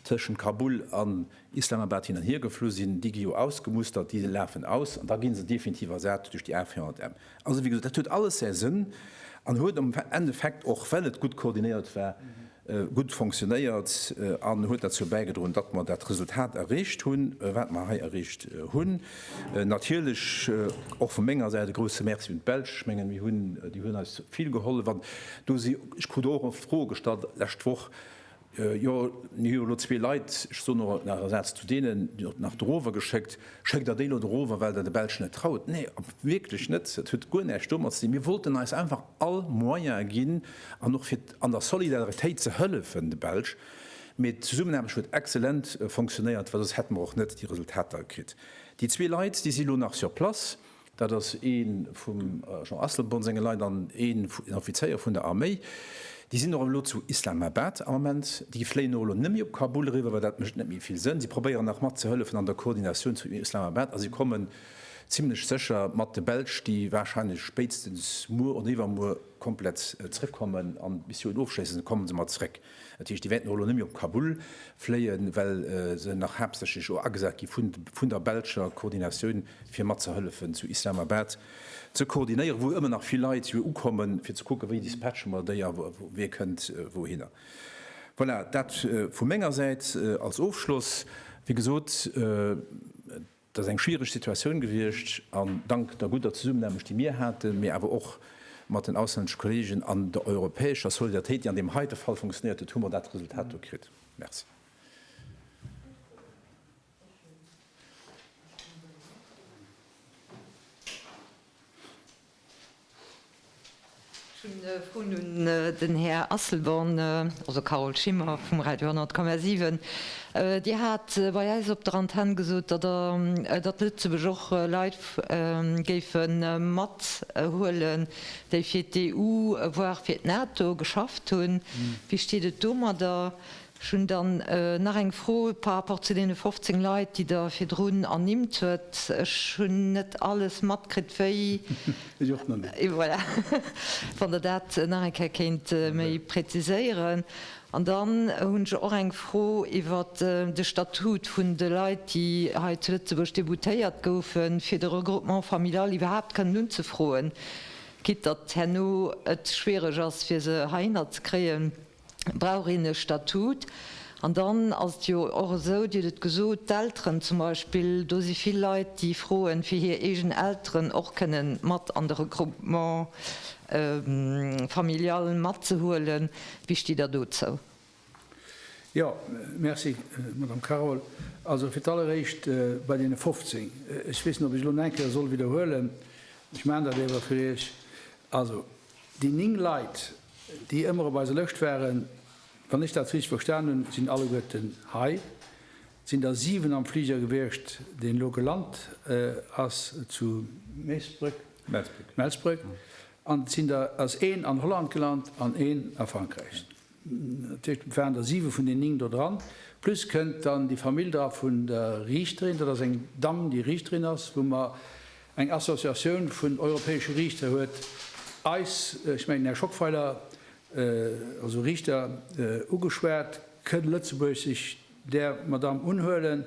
tëschent Kabul an Islamabad hin an hier geflu sinn, déi gi jo ausgemustert, déi lafen aus an da gi se definitiv ersat duerch déi A400M. Also, wéi gesot, dat huet alles säi Sënn an huet am Endeffekt och, well et gutt koordinéiert war, gutt fonctionnéiert an huet derzou bäigedroen, datt mer dat Resultat erreecht hunn, wat mer hei erreecht hunn. Natierlech och vu menger Säit e grouse Merci un d'Belsch. Ech mengen, mir hunn, déi hunn eis vill gehollef an do si, ech krut och oft Froe gestallt d'lescht Woch, Jo, mir hu jo elo zwee Leit, ech soen och nach e Saz zu deenen, déi der nach dorower geschéckt. Schéckt der déi elo dorower, well der de Belschen net traut? Nee, wierklech net. Dat huet guer näischt domat ze dinn. Mir wollten eis einfach all Moyene ginn an och fir an der Solidaritéit ze hëllefen de Belsch. Mee d'Zesummenaarbecht huet exzellent fonctionnéiert, well soss hätte mer och net déi Resultater kritt. Déi zwee Leit, déi si lo nach sur place. Dat ass ee vum Jean Asselborn senge Leit an ee vun den Offizéier vun der Arméi. Déi sinn och elo zu Islamabad am Ament. Déi fléien och elo net méi op Kabul eriwwer, well dat mécht net méi vill Sënn. Si probéieren nach mat ze hëllefen an der Koordinatioun zu Islamabad a si kommen zimmlech sécher mat de Belsch, déi warscheinlech spéitstens muer oder iwwermuer komplett zréckkommen an d'Missioun ofschléissen, komme se mat zréck. Dat heescht, déi wäerten och elo net méi op Kabul fléien, well se nach haaptsächlech elo agesat gi vun der belscher Koordinatioun, fir mat ze hëllefen zu Islamabad ze koordinéieren, wou ëmmer nach vill Leit jo ukommen, fir ze kucken, wéi dispatche mer déi a wie kënnt wouhinner. Voilà, dat vu menger Säit als Ofschloss. Wéi gesot. Et ass eng schwiereg Situatioun gewiescht an dank der gudder Zesummenaarbecht, déi mir haten, mee awer och mat den auslänneschen Kollegen an der europäescher Solidaritéit, déi an deem heite Fall funktionéiert huet, hu mer dat Resultat do kritt. Merci. Ech hunn e Froen un den Här Asselborn, also Carole Schimmer vum Radio 10,7. Dir hat bei eis op der Antenn gesot, datt Der, datt Lëtzebuerg och Leit géife mat huelen, déi fir d'EU, voire fir d'NATO geschafft hunn. Wéi steet et domadder? Ech hunn dann nach eng Fro par rapport zu deene 15 Leit, déi Der virdrun ernimmt huet. Ech hunn net alles matkritt, wéi, Ech och nach net. Voilà, wann Der dat nach eng Kéier kéint méi präziséieren. An dann hunn ech och eng Fro iwwer de Statut vun de Leit, déi hei zu Lëtzebuerg déboutéiert goufen, fir de Regroupement familial iwwerhaapt kënnen unzefroen, quitte datt herno et schwiereg ass, fir se heihinner ze kréien. brauch een e Statut. An dann ass et jo och esou, Dir hutt et gesot, d'Elteren zum Beispill, do si vill Leit, déi froen, fir hir eegen Elteren och kënne mat an de Regroupement familial matzehuelen. Wéi stitt Der dozou? Jo, merci, Madamm Carol. Also fir d'alleréischt bei deene 15, ech weess net, ob ech elo nach eng Kéier soll widderhuelen, ech maachen dat éwer fir Iech. Also, Déi 9 Leit, déi ëmmer op eiser Lëscht waren, wann ech dat richteg verstan hunn, sinn alleguerten hei. Et sinn der 7 am Fliger gewiescht, deen elo gelant ass zu Meesbréck, Melsbréck, an et sinn der ass een an Holland gelant an een a Frankräich. Tëscht waren der 7 vun den 9 do dran. Plus kënnt dann déi Famill dra vun der Riichterin. Dat ass eng Damm, déi Riichterin ass, wou mer eng Associatioun vun europäesche Riichter huet eis, ech mengen Här Schockweiler, also Riichter, ugeschwat, Kënnt Lëtzebuerg sech där Madamm unhuelen,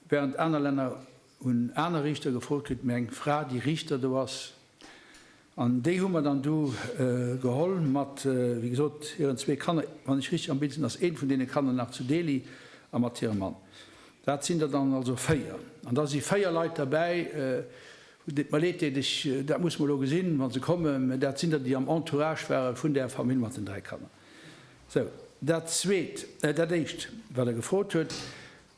während aner Länner hunn aner Riichter gefrot, kritt mir eng Fra, déi Riichter do ass. An déi hu mer dann du geholl mat, wéi gesot, hiren zwee Kanner. Wann ech richteg am Bild sinn, ass eent vun deene Kanner nach zu Delhi a mat hirem Mann. Dat sinn der dann also véier. An da si véier Leit derbäi, et mer leed deet, ech, dat muss mer elo gesinn, wa se kommen, mä dat sinn der, déi am Entourage ware vun där Famill mat den dräi Kanner. Sou, dat Zweet, dat Éischt, wat Der gefrot hutt,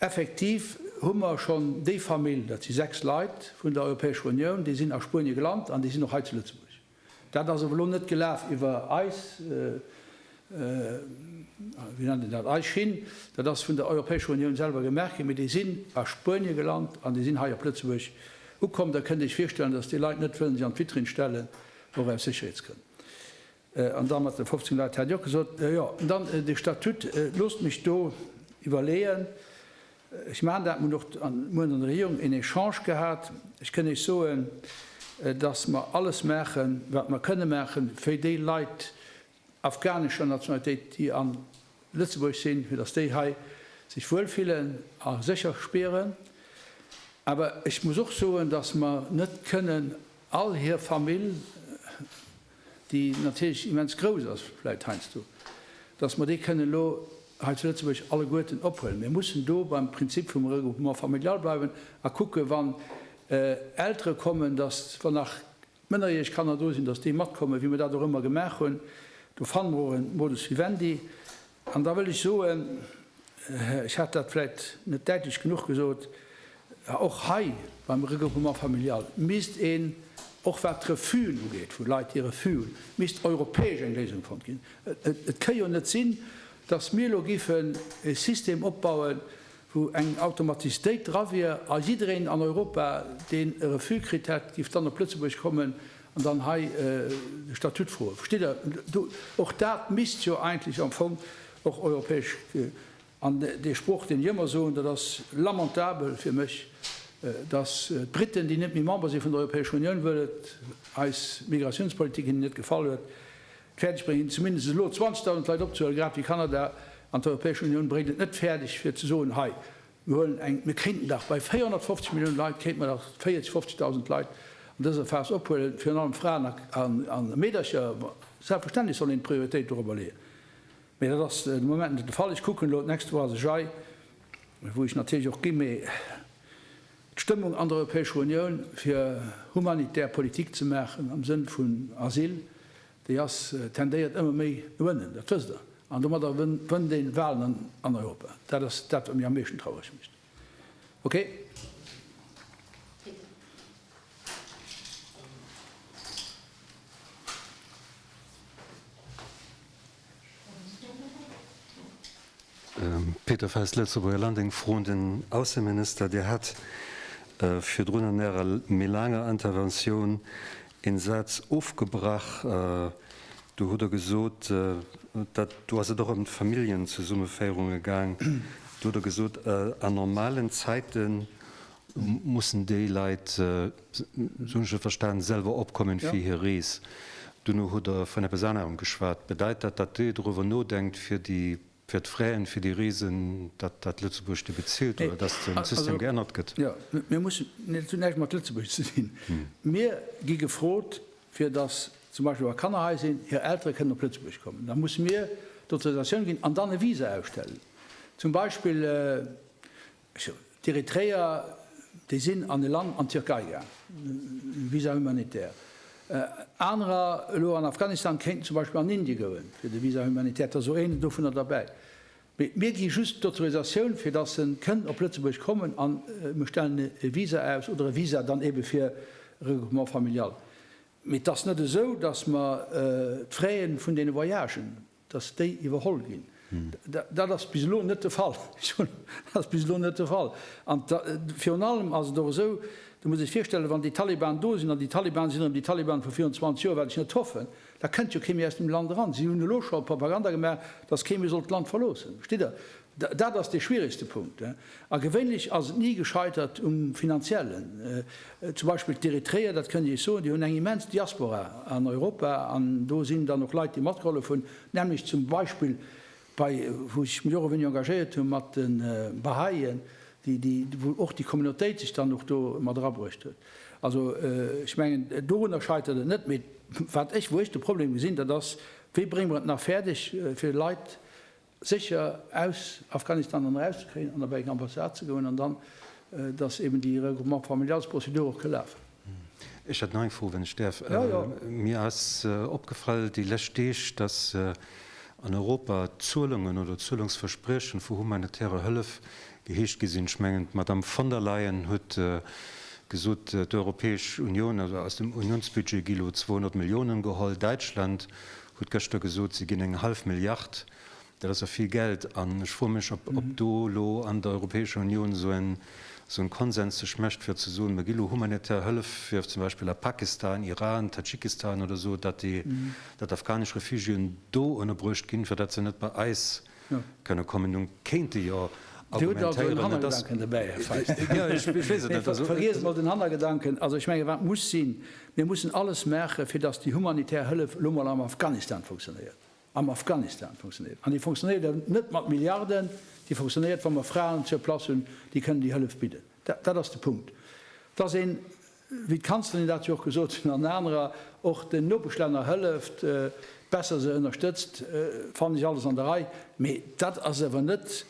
Effektiv hu mer schonn déi Famill, dat si sechs Leit vun der Europäescher Unioun, déi sinn a Spuenie gelant an déi sinn och hei zu Lëtzebuerg. Dat ass awer elo net gelaf iwwer eis, wéi nennt een dat, eis Schinn. Dat ass vun der Europäescher Unioun selwer gemaach ginn, mee déi sinn a Spuenie gelant an déi sinn hei op Lëtzebuerg ukomm. Da kënnt Dir Iech virstellen, dass déi Leit net wëllen sech an d'Vitrinn stellen, och aus Sécherheetsgrënn. An da mat de 15 Leit hat Dir och gesot. Jo, an dann de Statut. Loosst mech do iwwerleeën. Ech maachen dat. Mir hunn och muer an der Regierung een Echange gehat. Ech kënn Iech soen, datt mer alles maachen, wat mer kënne maachen, fir déi Leit afghanescher Nationalitéit, déi a Lëtzebuerg sinn, fir datt déi hei sech wuel fillen a sécher spieren. Awer ech muss och soen, datt mer net kënnen all hir Famill, déi natierlech immens grouss ass vläicht heiansdo, dass mer déi kënnen elo hei zu Lëtzebuerg alleguerten ophuelen. Mir mussen do beim Prinzip vum Regroupement familial bleiwen a kucken, wann Eltere kommen, dass, wann nach mënnerjäreg Kanner do sinn, dass déi matkommen, wéi mer dat och ëmmer gemaach hunn. Do fanne mer och e Modus vivendi. An da wëll ech soen, ech hat dat vläicht net däitlech genuch gesot, och hei beim Regroupement familial misst een, och wat d'Refus'en ugeet vu Leit, déi Refus hunn, misst europäesch eng Léisung fonnt ginn. Et ka jo net sinn, datt mir elo géifen e System opbauen, wou eng Automatistéit dra wier a jiddereen an Europa, deen e Refus kritt hätt, géif dann op Lëtzebuerg kommen An dann hei déi Statutfroe, versteet Der? Do, och dat misst jo eigentlech am Fong och europäesch, an dee Sproch, deen ech ëmmer soen, dat ass lamentabel fir mech, dass d'Briten, déi net méi Member si vun der Europäescher Unioun, wëll et eis Migratiounspolitik hinnen net gefall huet, fäerdeg bréngen, hinnen zumindest elo 20.000 Leit opzehuelen, grad ewéi Kanada, an d'Europäesch Unioun bréngt et net fäerdeg, fir ze soen, hei, Mir huelen eng, mir kéinten dach bei 450 Milliounen Leit, kéinte mer dach 40, 50.000 Leit an dëser Phas ophuelen, virun allem Fraen a Meedercher. Selbstverständlech soll een d'Prioritéit dorobber leeën, mä dat ass de Moment net de Fall. Ech kucken elo, d'nächst Woch ass ech hei, wou ech natierlech och gi, mä d'Stëmmung an der Europäescher Unioun, fir humanitär Politik ze maachen am Sënn vun Asyl, Déi ass, tendéiert ëmmer méi no ënnen, dat wësst Der. An domadder wënnt een Walen an Europa. Dat ass dat, wat mir am meeschten traureg mécht. Okay. Peter Fest, Lëtzebuerger Land, Eng Fro un den Ausseminister. Dir hat virdrun an Ärer méi laanger Interventioun een Saz ofgebrach. Do hutt Der gesot, dat do ass et och ëm d'Familljenzesummeféierunge gaang, do hutt Der gesot, a normalen Zäiten, Mussen déi Leit, sou hunn ech et verstanen, selwer opkommen fir hir Rees? Duerno hutt Der vun eppes anerem geschwat. Bedeit dat, datt Dir doruewer nodenkt fir d'Fraien fir déi Reesen, datt dat Lëtzebuerg déi bezilt oder datt den System geännert gëtt? Jo, mir mussen, dat huet näischt mat Lëtzebuerg ze dinn. Mir gi gefrot fir datt zum Beispill wa Kanner hei sinn, hir Eltere kënnen op Lëtzebuerg kommen. Da musse mir d'Autorisatioun ginn an dann e Visa ausstellen. Zum Beispill D'Eritreër, déi sinn an e Land, an d'Tierkei gaang, Visa humanitaire. Anerer elo an Afghanistan kéinten zum Beispill an Indien goen, fir de Visa humanitaire, et ass och een dovunner derbäi. Mee mir gi just d'Autorisatioun, fir dass en kënn op Lëtzebuerg kommen, a mir stellen e Visa aus, oder e Visa dann eebe fir e Regroupement familial. Mee et ass net esou, dass mer d'Fraie vun deene Voyagen dass déi iwwerholl ginn. Dat ass bis elo net de Fall. Ech hunn, dat ass bis elo net de Fall. An virun allem ass et och esou, Do muss ee sech virstellen, wann déi Taliban do sinn, an déi Taliban sinn erëm déi Taliban vu virun 20 Joer, wat ech net hoffen, da kënnt jo kee méi aus dem Land eran. Si hunn elo scho Propaganda gemaach, dass kee méi soll d'Land verloossen. Verstitt Der? Dat ass dee schwieregste Punkt. A gewéinlech ass et ni gescheitert um Finanziellen. Zum Beispill d'Eritreer, dat kënnt Dir Iech soen, déi hunn eng immens Diaspora an Europa an do sinn dann och Leit, déi matgehollef hunn, näamlech zum Beispill bei, wou ech mech och e weéneg engagéiert hu mat de Bahá'ien, déi, déi, wou och déi Communautéit sech dann och do mat erabruecht huet. Also ech mengen, dorunner scheitert et net, mee wat ech, wou ech de Problem gesinn, dat ass, wéi brénge mer et nach fäerdeg, fir Leit, sécher aus Afghanistan dann eraus ze kréien an op eng Ambassade ze goen an dann, dass eben déi Regroupement familialsprozedur och ka lafen. Ech hätt nach eng Fro, wann ech däerf. Jo, jo. Mir ass opgefall déi lescht Deeg, dass an Europa Zuelungen oder Zuelungsverspriechen vu humanitärer Hëllef geheescht gi sinn. Ech mengen, d'Madame von der Leyen huet gesot, d'Europäesch Unioun, also aus dem Unionsbudget gi elo 200 Millionen geholl. Däitschland hutt gëschter gesot, se ginn eng hallef Milliard, dat ass jo vill Geld. An ech froe mech, ob do elo an der Europäescher Unioun esou en Konsens sech mécht, fir ze soen, mer gi elo humanitär Hëllef fir zum Beispill a Pakistan, Iran, Tadschikistan oder esou, datt déi afghanesch Refugiéen do ënnerbruecht ginn, fir datt se net bei eis kënne kommen hunn, kéinte jo argumentéieren, et ass. Vergiesst mol den Hannergedanken. Also ech menge wat muss sinn, mir mussen alles maachen, fir datt déi humanitär Hëllef elo mol am Afghanistan funktionéiert, am Afghanistan funktionéiert. An déi funktionéiert elo net mat Milliarden, déi funktionéiert, wa mer Fraen sur place hunn, déi kënnen déi Hëllef bidden. Dat ass de Punkt, datt een wéi d'Kanzlerin dat jo och gesot hunn, an anerer, och den Nopeschlänner hëlleft, besser se ënnerstëtzt, fannen ech alles an der Rei. Mee dat ass awer net,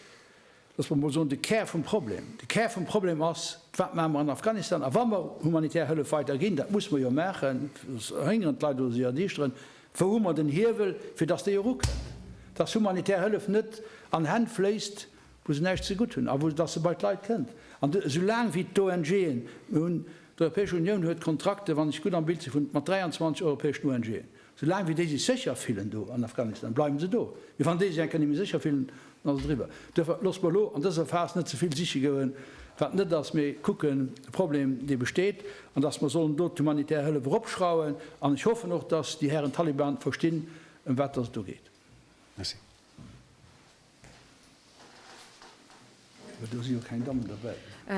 loosse mer mol soen, de Kär vum Problem. De Kär vum Problem ass, Wat maache mer an Afghanistan? A wa mer humanitär Hëllef weider ginn, dat musse mer jo maachen, soss verhéngeren d'Leit oder si erdiischteren, wou hu mer den Hiewel, fir datt déi erukënnt, datt humanitär Hëllef net an Hänn fléisst, wou se näischt ze gutt hunn a wou dass se bei d'Leit kënnt, an esou laang wéi d'ONGen hunn, d'Europäesch Unioun huet Kontrakten, wann ech gutt am Bild sinn, vun mat 23 europäeschen ONGen, esou laang wéi déi sech sécher fillen do an Afghanistan, bleiwen se do, mee wann déi sech eng Kéier net méi sécher fillen, dann ass et eriwwer. Duerfir loosse mer elo an dëser Phas net ze vill siche goen, wat net ass, mee kucken de Problem, dee besteet, an dass mer sollen do d'humanitär Hëllef eropschrauwen, an ech hoffen och, dass déi Hären Taliban verstinn, ëm wat dass et do geet. Merci.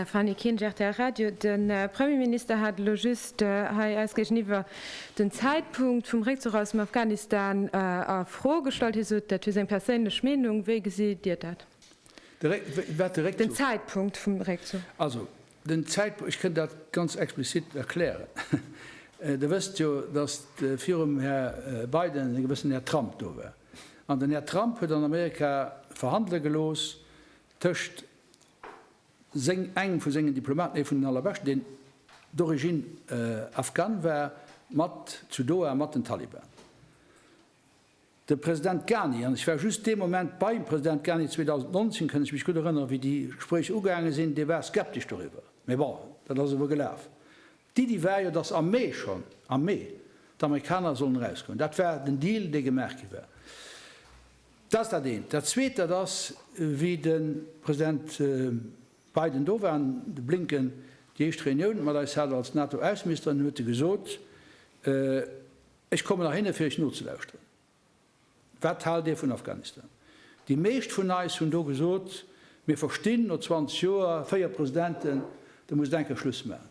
Fanny Kinsch, rtl Radio, De Premierminister hat elo just hei eis géigeniwwer den Zäitpunkt vum Réckzuch aus dem Afghanistan a Fro gestallt. Hie sot, dat wier seng perséinlech Meenung. Wéi gesitt Dir dat? Den Zäitpunkt vum Réckzuch? Also, den Zäitpunkt, ech kënn dat ganz explizit erklären. Der wësst jo, datt virum Här Biden e gewëssen Här Trump do war. An den Här Trump huet an Amerika verhandele gelooss tëscht seng, engem vu sengen Diplomaten, ee vun den allerbeschten, deen d'origine afghane war, mat, zu Doha, mat den Taliban. De President Ghani, an ech war just dee Moment beim President Ghani 2019, kënn ech mech gutt erënnere wéi déi Gespréicher ugaange sinn, dee war skeptesch doriwwer. Mee bon, dat ass ewell gelaf. D'Iddi war jo, datt am Mee schonn, am Mee, d'Amerikaner sollen erausgoen. Dat war den Deal, dee gemaach gi war. Dat ass dat eent. Dat Zweet, dat ass, wéi de President Biden do war an de Blinken déi éischt Reunioun mat eis hat als NATO-Ausseministeren, huet e gesot, Ech kommen nach hinne fir Iech nozelauschteren. Wat haalt Dir vun Afghanistan? Déi meescht vun eis hunn do gesot, Mir verstinn, no 20 Joer, véier Presidenten, da muss een enker Schluss maachen.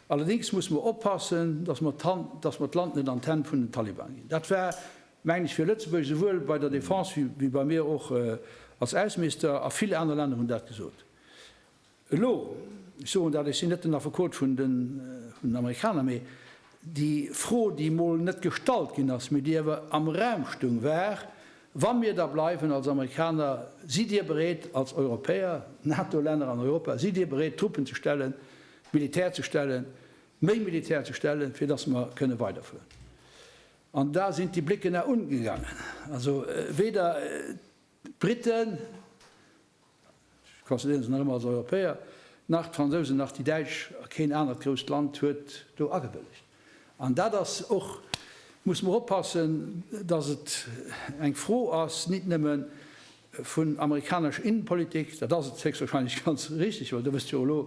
Allerdéngs musse mer oppassen, datt mer d'Hand, datt mer d'Land net an d'Hänn vun den Taliban ginn. Dat war, mengen ech, fir Lëtzebuerg esouwuel bei der Defense wéi bei mir och als Ausseminister, a vill aner Länner hunn dat gesot. Elo, ech soen dat, ech sinn net den Affekot vun den Amerikaner, mee déi Fro, déi emol net gestallt ginn ass, mee déi awer am Raum stung, war, Wa mir da bleiwen als Amerikaner, sidd Dir bereet als Europäer, NATO-Länner an Europa, sidd Dir bereet Truppen ze stellen, Militär ze stellen, méi Militär ze stellen, fir datt mer kënne weiderfueren? An da sinn d'Débliquena ungegangen. Also weder. D'Briten, ech consideréieren se nach ëmmer als Europäer, nach d'Fransousen, nach déi Däitsch a keen anert grousst Land huet do agewëllegt. An dat ass och, muss mer oppassen, datt et eng Fro ass nit nëmme vun amerikanesch Innenpolitik, dat ass et héchstwahrscheinlech ganz richtig, well do wësst jo elo,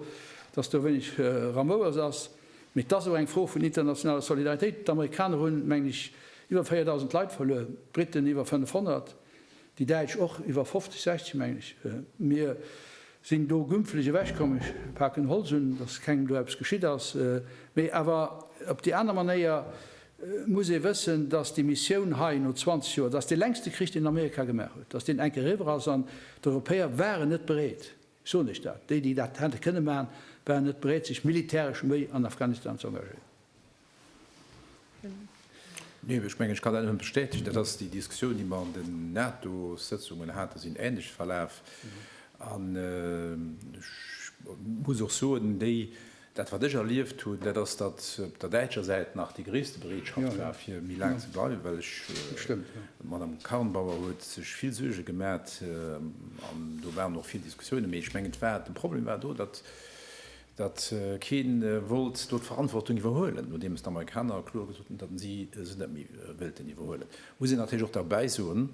datt do wéineg Ramouers ass, mee et ass och eng Fro vun internationaler Solidaritéit. D'Amerikaner hunn, mengen ech, iwwer 4.000 Leit verluer, d'Briten iwwer 500. Déi Däitsch och, iwwer 50, 60 mengen ech. Mir sinn do gümpflech ewech komm, ech paken Holz un, datt kengem do eppes geschitt ass. Mee awer op déi aner Manéier muss ee wëssen, datt déi Missioun hei no 20 Joer, dat ass dee längste Krich, deen Amerika gemaach huet, datt deen enke eriwwer ass an d'Europäer waren net bereet, ech soen Iech dat, déi, déi dat hätte kënne maachen, waren net bereet sech militäresch méi an Afghanistan ze engagéieren. Nee, ech mengen, ech kann dat nëmme bestätegen. Dat ass déi Diskussioun, déi mer an den NATO-Sëtzungen haten, sinn änlech verlaf. An ech muss och soen, déi, dat wat ech erlieft hunn, dat ass, datt op der däitscher Säit nach déi gréisste Bereetschaft war fir méi laang ze bleiwen, well ech, d'Madame Karrenbauer huet sech vill Suerge gemat an do waren och vill Diskussiounen, mee ech mengen, et war, de Problem war do, datt datt kee wollt do d'Verantwortung iwwerhuelen, nodeems d'Amerikaner kloer gesot hunn, datt si se net méi wéilten iwwerhuelen, muss een natierlech och derbäi soen,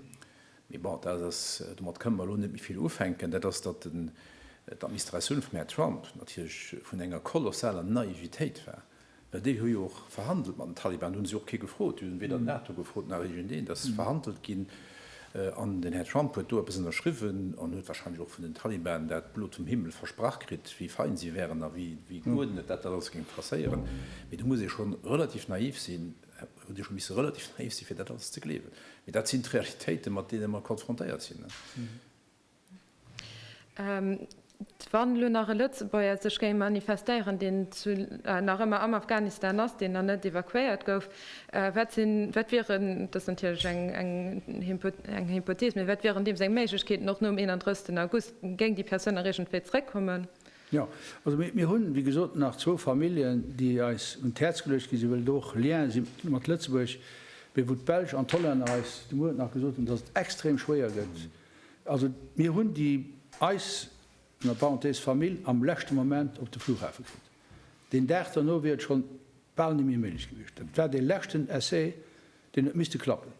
mee bon, dat ass, domat kënne mer elo net méi vill ufänken, dat ass, datt d'Administratioun vum Här Trump natierlech vun enger kolossaler Naivitéit war. Mä déi hu jo och verhandelt mat den Taliban, do hunn si och kee gefrot. Déi hunn weder d'NATO gefrot nach iergendeen. Dat ass verhandelt ginn an den Här Trump huet do eppes ënnerschriwwen an huet wahrscheinlech och vun den Taliban dat blo zum Himmel versprach kritt, wéi fein si wären a wéi geurdnet dat dat alles géing passéieren. Mee do muss ee schonn relativ naïf sinn, hutt Dir schonn misse relativ naïf sinn, fir dat alles ze gleewen. Mee dat sinn d'Realitéiten, mat deene mer konfrontéiert sinn. Wann elo nach e Lëtzebuerger sech géing manifestéieren, deen nach ëmmer am Afghanistan ass, deen nach net evakuéiert gouf, wat sinn, wat wieren, dat ass natierlech eng Hypothees, mee wat wieren deem seng Méiglechkeeten och nom 31 August? Géing déi Persoun nach iergendwéi zeréckkommen? Jo. Also mir hunn, wéi gesot, nach zwou Familljen, déi eis un d'Häerz geluecht ginn sinn, well et och Lienen si mat Lëtzebuerg, mee wou d'Belsch an d'Hollänner eis de Muer nach gesot hunn, datt et extrem schwéier gëtt, Also mir hunn déi eis, ënner Parenthèse, Famill am leschte Moment op de Flughafe kritt. Deen Dag derno wier et schonn bal niméi méiglech gewiescht. Dat war dee leschten Essai, deen huet misste klappen.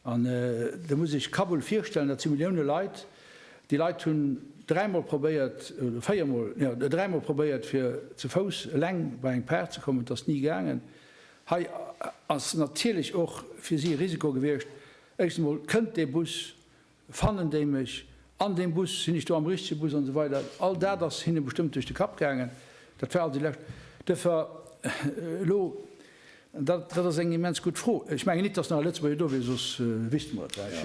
An da muss Iech Kabul virstellen, dat si Millioune Leit. Déi Leit hunn dräi Mol probéiert, oder véier Mol, jo, dräi Mol probéiert, fir ze Fouss eleng bei eng Par ze kommen. Et ass ni gaangen. Hei ass natierlech och fir si e Risiko gewiescht, Éischtens emol, Kënnt dee Bus? Fannen déi mech an deem Bus? Sinn ech do am richtege Bus? an esou weider All dat ass hinne bestëmmt duerch de Kapp gaangen. Dat war also déi lescht Dëffer. Elo, an dat ass eng immens gutt Fro, ech mengen nit, datt nach e Lëtzebuerger do wier, soss wüsste mer et lech.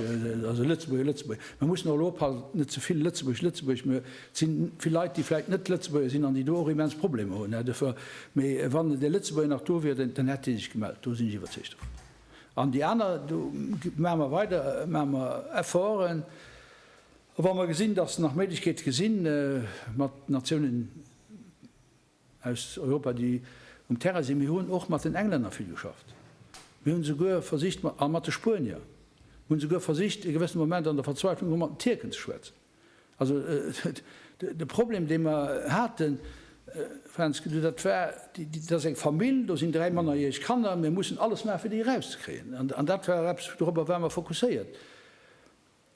Also Lëtzebuerger, Lëtzebuerger, mer mussen och elo oppassen, net ze vill Lëtzebuerg, Lëtzebuerg, me et si vill Leit, déi vläicht net Lëtzebuerger sinn an déi do och immens Problemer hunn. Dëffer, mee wann dee Lëtzebuerger nach do wier, dann hätt dee sech gemellt, do sinn ech iwwerzeegt dervun. An déi aner, do maache mer weider, maache mer Efforten. A wa mer gesinn, datt nach Méiglechkeete gesinn, mat Natiounen aus Europa, déi um Terrain sinn, mir hunn och mat den Englänner vill geschafft, mir hunn esouguer versicht, a mat de Spuenier, mir hunn esouguer versicht e gewëssene Moment an der Verzweiflung erëm mat den Tierken ze schwätzen. Also de Problem, dee mer haten, Fränzke, du, dat war, dat ass eng Famill, do sinn dräi mannerjäreg Kanner, mir mussen alles maachen, fir déi erauszekréien. An dat war eppes, dorobber ware mer fokusséiert.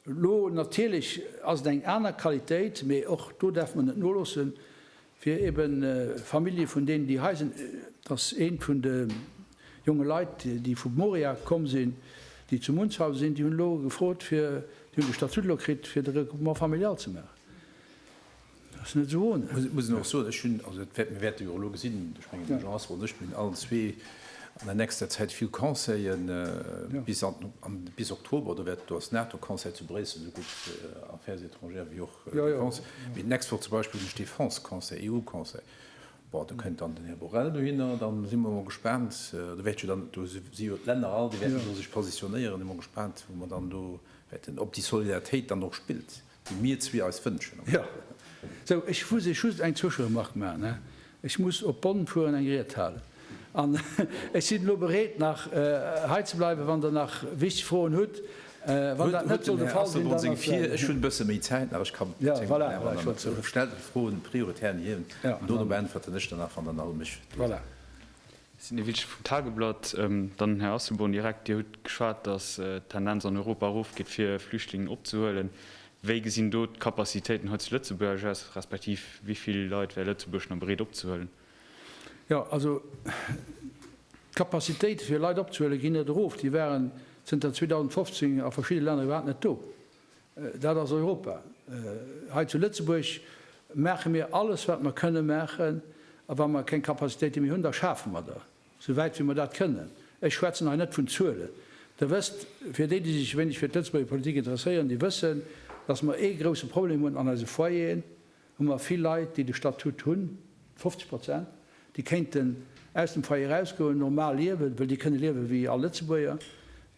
Elo natierlech ass et eng aner Qualitéit, mee och do däerfe mer net noloossen. fir ebe Famillje vun deenen, déi hei sinn, dass ee vun de jonge Leit, déi vu Moria komm sinn, déi zu Munzhausen sinn, déi hunn elo gefrot fir, déi hunn de Statut elo kritt, fir de Regroupement familial ze maachen. Dat ass net esou ohne. Ech muss och soen, ech hunn, also mir wäerte jo elo gesinn, ech mengen de Jean Asselborn an ech, mir hunn allen zwee an der nächster Zäit vill Conseillen bis an, bis Oktober, do wäert, do ass NATO-Conseil zu Bréissel, esou gutt Affaires étrangères wéi och Défense, mee den Export zum Beispill duerch Défense-Conseil, EU-Conseil, bon, do kënnt dann den Här Borrell dohinner, da si mer emol gespaant, do wäert jo dann, do si jo d'Länner all, déi wäerten do sech positionéieren, si mer gespaant, wou mer dann do wäerten, ob déi Solidaritéit dann och spillt, déi mir zwee eis wënschen. Jo, sou, ech muss lech just eng Zwëscheremark maachen. Ech muss op Bonn fueren, eng Ried halen. An ech sinn elo bereet, nach hei ze bleiwen, wann Der nach wichteg Froen hutt. Wann dat net soll de Fall sinn, dann ass dat esou. Ech hunn e bësse méi Zäit nach. Ech kann zéng Minutten halen. Voilà, voilà, ech. Stellt Är Froen prioritär hir un. Ja. An dono beäntwerten ech der nach, wann Der nach u mech wiisst. Voilà. Sidney Wittich vum Tageblatt, Dann, Här Asselborn, direkt, Dir hutt geschwat, datt d'Tendenz an Europa erofgeet, fir Flüchtlingen opzehuelen. Wéi gesinn do d'Capacitéiten hei zu Lëtzebuerg aus, respektiv wéi vill Leit wär Lëtzebuerg nach bereet opzehuelen? Jo, also d'Capacitéite fir Leit opzehuelen, ginn net erof. Déi waren zënter 2015 a verschidde Länner iwwerhaapt net do. Dat ass Europa. Hei zu Lëtzebuerg maache mir alles wat mer kënne maachen, a wa mer keng Capacitéite méi hunn, da schafe mer der. Sou wäit wéi mer dat kënnen, ech schwätzen hei net vun Zuelen, Der wësst, fir déi, déi sech e wéineg fir d'Lëtzebuerger Politik interesséieren, déi wëssen, datt mer ee grousse Problem hunn, an eise Foyeren hu mer vill Leit, déi de Statut hunn, 50 Prozent, déi kéinten aus dem Foyer erausgoen, normal liewen, wëll déi kënne liewe wéi all Lëtzebuerger,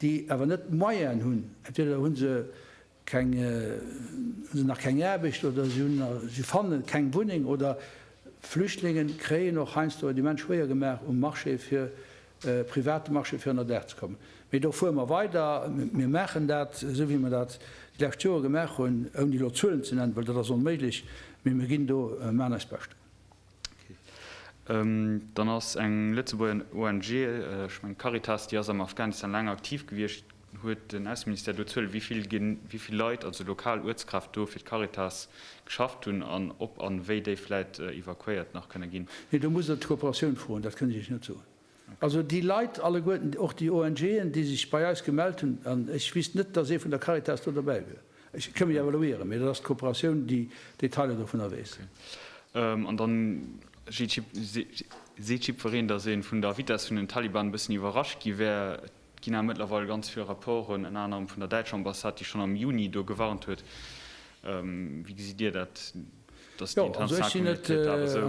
déi awer net d'Moyenen hunn, entweder hu se, keng si nach keng Aarbecht oder si hunn si fanne keng Wunneng oder Flüchtlinge kréien och heiansdo et immens schwéier gemaach um Marché fir private Marché fir ënnerdaach ze kommen. Mee do fuere mer weider, mir maachen dat esou wéi mer dat déi lescht Jore gemaach hunn, ouni elo Zuelen ze nennen, well dat ass onméiglech, mee mir ginn do, maan eist Bescht. Dann ass eng Lëtzebuerger ONG, ech mengen d'Caritas, déi ass am Afghanistan laang aktiv gewiescht. Huet den Ausseministère do Zuelen, wéi vill Leit, also lokal Uertskräfte do fir d'Caritas geschafft hunn an ob an wéi déi vläit evakuéiert nach kënne ginn? Nee, do muss Der d'Kooperatioun froen, dat kënn ech Iech net soen. Also déi Leit alleguerten, och déi ONGen, déi sech bei eis gemellt hunn, an ech wiisst net, datt ee vun der Caritas do derbäi wier, ech kënn mech awer lo ieren, mee dat ass d'Kooperatioun, déi d'Detailer dovunner weess. An da seet jiddwereen, datt ee vun der Vitess vun den Taliban e bëssen iwwerrascht gi wär. Et ginn awer mëttlerweil ganz vill Rapporten, ënner anerem vun der däitscher Ambassade, déi schonn am Juni do gewarnt huet. Wéi gesitt Dir dat, datt déi Intention vum Hitlär awer esou.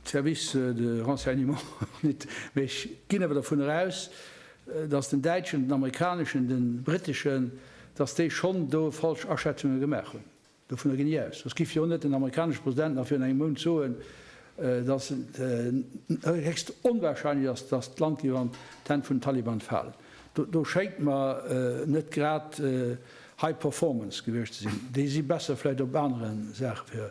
Service de renseignement och net, mä ech ginn awer dervunner eraus, datt den däitschen, den amerikaneschen, de britteschen, datt déi schonn do falsch Aschätzunge gemaach hunn. Dovunner ginn ech aus. Soss giff jo net den amerikanesche President nach virun engem Mount soen, datt et héchst onwahrscheinlech ass, datt d'Land géif an d'Hänn vun den Taliban falen. Do schéngt mer net grad high performance gewiescht ze sinn. Déi si besser vläicht op anere Saache fir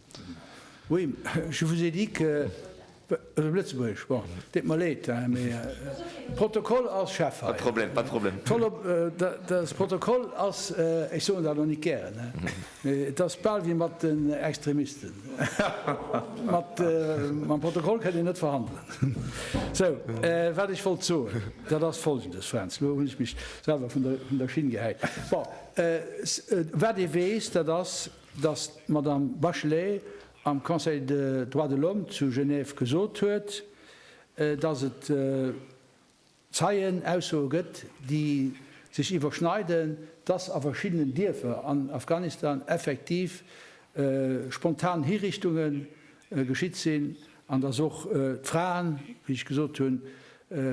Oui, je vous ai dit que, also Lëtzebuergesch, bon, deet mer Leed, hein, mais de Protokoll ass, Chef, hei. Pas de problème, pas de problème. Tollo, de Protokoll ass, ech soen dat och net gären, hein, mais et ass bal wéi mat den Extremisten, mat, mam Protokoll kënnt een net verhandelen. Sou, wat ech wollt soen, dat ass Folgendes, Fränz, elo hunn ech mech selwer vun der Schinn gehäit. Bon, wat ee weess, dat ass, datt d'Madame Bachelet am Conseil de Droits de l'Homme zu Genève gesot huet, datt et Zeienaussoe gëtt, déi sech iwwerschneiden, datt a verschiddenen Dierfer an Afghanistan effektiv spontan Hiriichtunge geschitt sinn an datt och d'Fraen, wéi ech gesot hunn,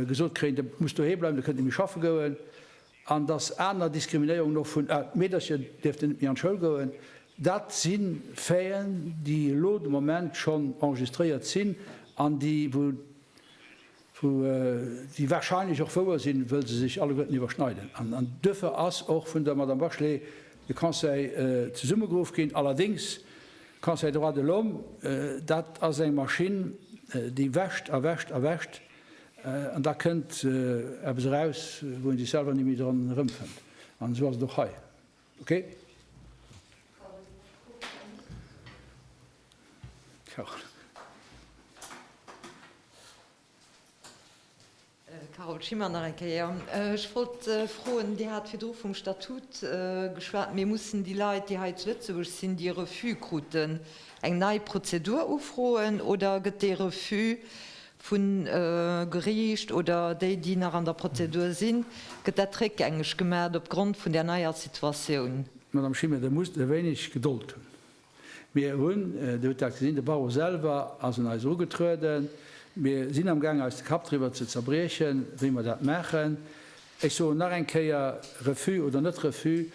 gesot kréien, Dir musst doheem bleiwen, Dir kënnt net méi schaffe goen. An dass aner Diskriminéierungen och vun, ah, d'Meedercher dierften net méi an d'Schoul goen, dat si Faiten, déi elo de Moment schonn enregistréiert sinn an déi, wou, déi warscheinlech och wouer sinn, wëll se sech alleguerten iwwerschneiden. An duerfir ass och vun der Madame Bachelet de Conseil zesummegeruff ginn. Allerdéngs, Conseil droits de l'homme, dat ass eng Maschinn, déi wäscht a wäscht a wäscht. An da kënnt eppes eraus, wou een sech selwer ni méi dran erëmfënnt. An esou ass et och hei. Okay. Carole. Carole Schimmer, Nach eng Kéier. Ech wollt froen, Dir hat virdru vum Statut geschwat, mee mussen déi Leit, déi hei zu Lëtzebuerg sinn, déi e Refus kruten, eng nei Prozedur ufroen oder gëtt dee Refus vu Geriicht oder déi, déi nach an der Prozedur sinn, gëtt dat réckgängeg gemaacht opgrond vun där neier Situatioun. Madame Schimmer, Der musst e wéineg Gedold hunn. Mir hunn, Dir hutt dat gesinn, de Barreau selwer ass un eis ugetrueden. Mir sinn amgaangen, eis de Kapp driwwer ze zerbriechen, wéi mer dat maachen. Ech soen nach eng Kéier, Refus oder net Refus,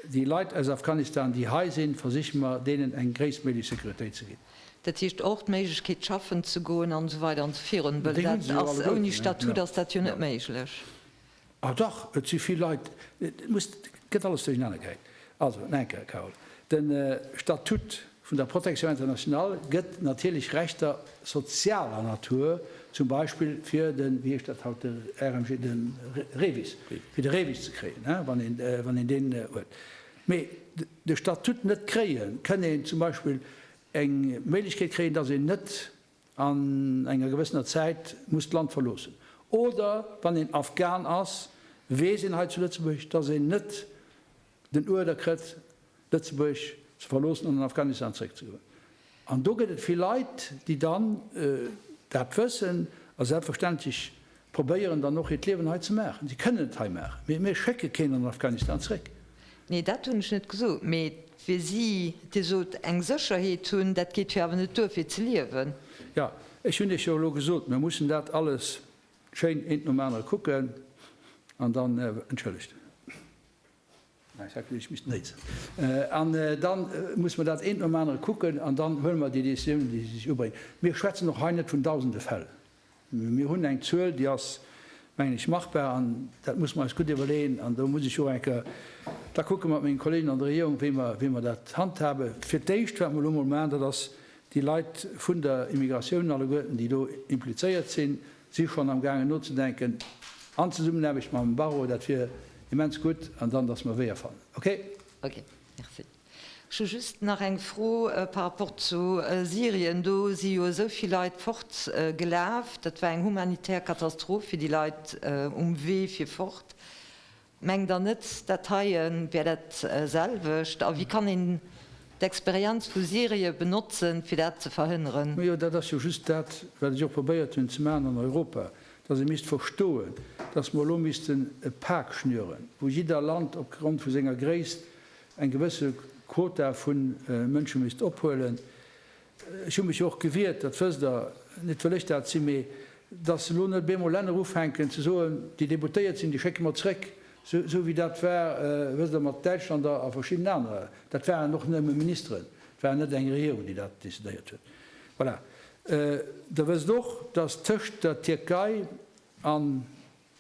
déi Leit aus Afghanistan, déi hei sinn, versiche mer, deenen eng gréisstméiglech Sécuritéit ze ginn. Dat heescht och d'Méiglechkeet schaffen ze goen an esou weider an esou virun, well dat ass ouni Statut ass dat jo net méiglech. Ah dach, et si vill Leit, et muss, et gëtt alles duerchenaner geheit. Also no enker, Carole, de Statut vun der Protection internationale gëtt natierlech Rechter sozialer Natur, zum Beispill fir den, wéi heescht dat haut, de RMG, de REVIS, fir de REVIS ze kréien, wann een deen huet. mee de Statut net kréien, kënn een zum Beispill eng Méiglechkeet kréien, dass een net an enger gewëssener Zäit muss d'Land verloossen. Oder wann een Afghan ass, weess een hei zu Lëtzebuerg, dass een net den Uerder krëtt, Lëtzebuerg ze verloossen an an Afghanistan zréckzegoen. An do gëtt et vill Leit, déi dann dat wëssen a selbstverständlech probéieren dann och hiert Liewen hei ze maachen. Si kënnen et hei maachen, mee mir schécke keen an Afghanistan zréck. Nee, dat hunn ech net gesot, mee fir si, Dir sot eng Sécherheet hunn, dat geet jo awer net duer fir ze liewen. Jo, ech hunn Iech jo elo gesot, mir mussen dat alles schéin eent nom anere kucken an dann, entschëllegt. An da musse mer dat eent nom anere kucken an dann huele mer déi Décisiounen, déi sech ubréngen. Mir schwätzen och hei net vun dausende Fäll. Mir hunn eng Zuel, déi ass, mengen ech, machbar. An dat musse mer eis gutt iwwerleeën. An do muss ech och eng Kéier da kucke mat menge Kolleegen an der Regierung, wéi mer dat handhaben. Fir d'éischt, wat mer elo emol maachen, dat ass, déi Leit vun der Immigratioun alleguerten, déi do implizéiert sinn, Si schonn am gaangen nozedenken an Zesummenaarbecht mam Barreau, dat wier immens gutt, an dann datt mer Weeër fannen. Ok. Ok, merci. Ech hu just nach eng Fro par rapport zu Syrien. Do si jo esou vill Leit fort gelaf. Dat war eng humanitär Katastroph fir déi Leit um Wee fir fort. Mengt der net, dat heie wär dat selwecht? A wéi kann een d'Experienz vu Syrien benotzen, fir dat ze verhënneren? Majo, dat ass jo just dat, wat ech och probéiert hunn ze maachen an Europa, dass ee misst verstoen, dass mer elo missten e Pak schnüren, wou jidder Land op Grond vu senger Gréisst eng gewësse Quota vu Mënsche misst ophuelen. Ech hu mech jo och gewiert, dat wësst Der, net well ech dat sinn, mee datt elo net op eemol Länner ufänken ze soen, déi Deputéiert sinn, déi schécke mer zréck, esou wéi dat war, wësst Der, mat Däitschland a verschiddenen anere, dat waren och nëmme Ministeren, et war net eng Regierung, déi dat decidéiert huet. Voilà. Der wësst och, datt tëscht der Tierkei an.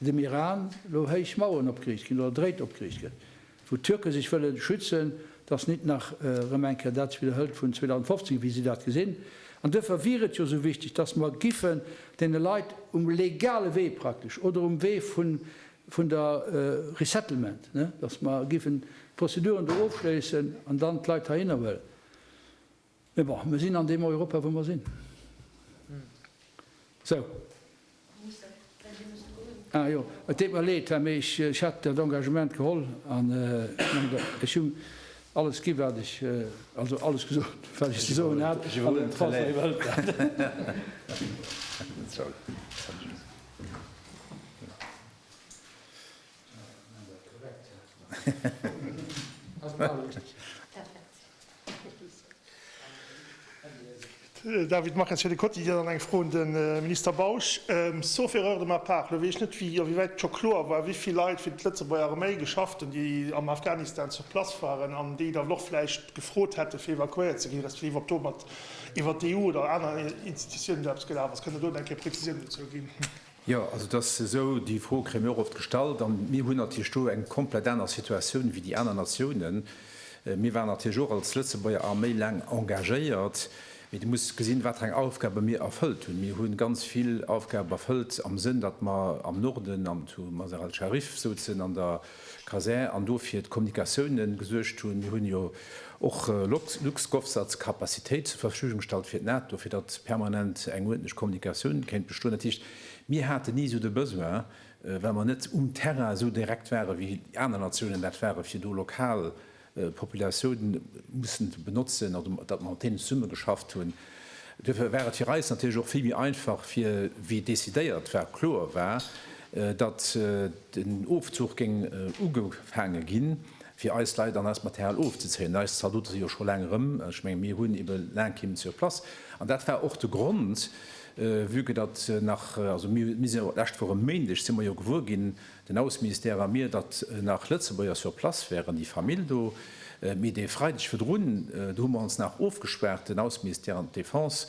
dem Iran elo héich Maueren opgeriicht ginn oder dréit opgeriicht gëtt, wou d'Türke sech wëlle schützen, dass nit nach erëm eng Kéier dat widderhëlt vun 2015, wéi si dat gesinn. An duerfir wier et jo esou wichteg, dass mer giffen deene Leit um legale Wee praktesch oder um Wee vun der Resettlement, dass mer giffen d'Prozeduren do ofschléissen an dann d'Leit heihinnerhuelen. Mee bon, mir sinn an deem Europa wou mer sinn. Sou. Ah jo, et deet mer leed, mee ech hat dat Engagement geholl an ech hu alles gi wat ech, also alles gesot wat ech ze soen hat an den Français wëllt dat. David Mares fir de Quotidien an eng Fro un de Minister Bausch. Sauf erreur de ma part, elo weess ech net, wéi a wéi wäit scho kloer war, wéi vill Leit fir d'Lëtzebuerger Arméi geschafft hunn, déi am Afghanistan sur place waren an déi da och vläicht gefrot hätten, fir evakuéiert ze ginn, respektiv ob domat iwwert d'EU oder aner Institutiounen do eppes gelaf ass. Kënnt Der do eng Kéier Prezisiounen dozou ginn? Jo, also et ass esou, déi Fro kréie mir och oft gestallt. A mir hunn natierlech do eng komplett aner Situatioun wéi déi aner Natiounen. Mir waren natierlech och als Lëtzebuerger Arméi laang engagéiert. Mee du muss gesinn, wat fir eng Aufgabe mir erfëllt hunn. Mir hu ganz vill Aufgabe erfëllt am Sënn, datt mer am Norden, am Mazar al-Sharif, souzen an der. Caser an do fir d'Kommunikatiounen gesuergt hunn. Mir hunn jo och LuxGovSat als Kapazitéit zur Verfügung gestallt fir d'NATO, fir datt permanent eng uerdentlech Kommunikatioun kéint bestoen. Dat heescht, mir haten ni esou de Besoin, well mer net um Terrain esou direkt waren, wéi déi aner Natiounen dat waren, fir do lokal Populatiounen mussen benotzen oder datt mer mat deenen zesumme geschafft hunn. Duerfir war et fir eis natierlech och vill méi einfach, fir wéi decidéiert war, kloer war, datt den Ofzuch géing ugefaange ginn, fir eis Leit an eist Material ofzezéien. Eis Zaldote si jo scho laang erëm, ech mengen, mir hunn ebe laang keen sur place. An dat war och de Grond, vue que datt nach, also mir si jo d'lescht Woch e Méindeg si mer jo gewuer ginn, Den Ausseministère a mir, datt nach Lëtzebuerger sur place wären, déi Famill do. Mee dee Freideg virdrun, do hu mer ons nach ofgespaart, den Ausseministère an d'Defense,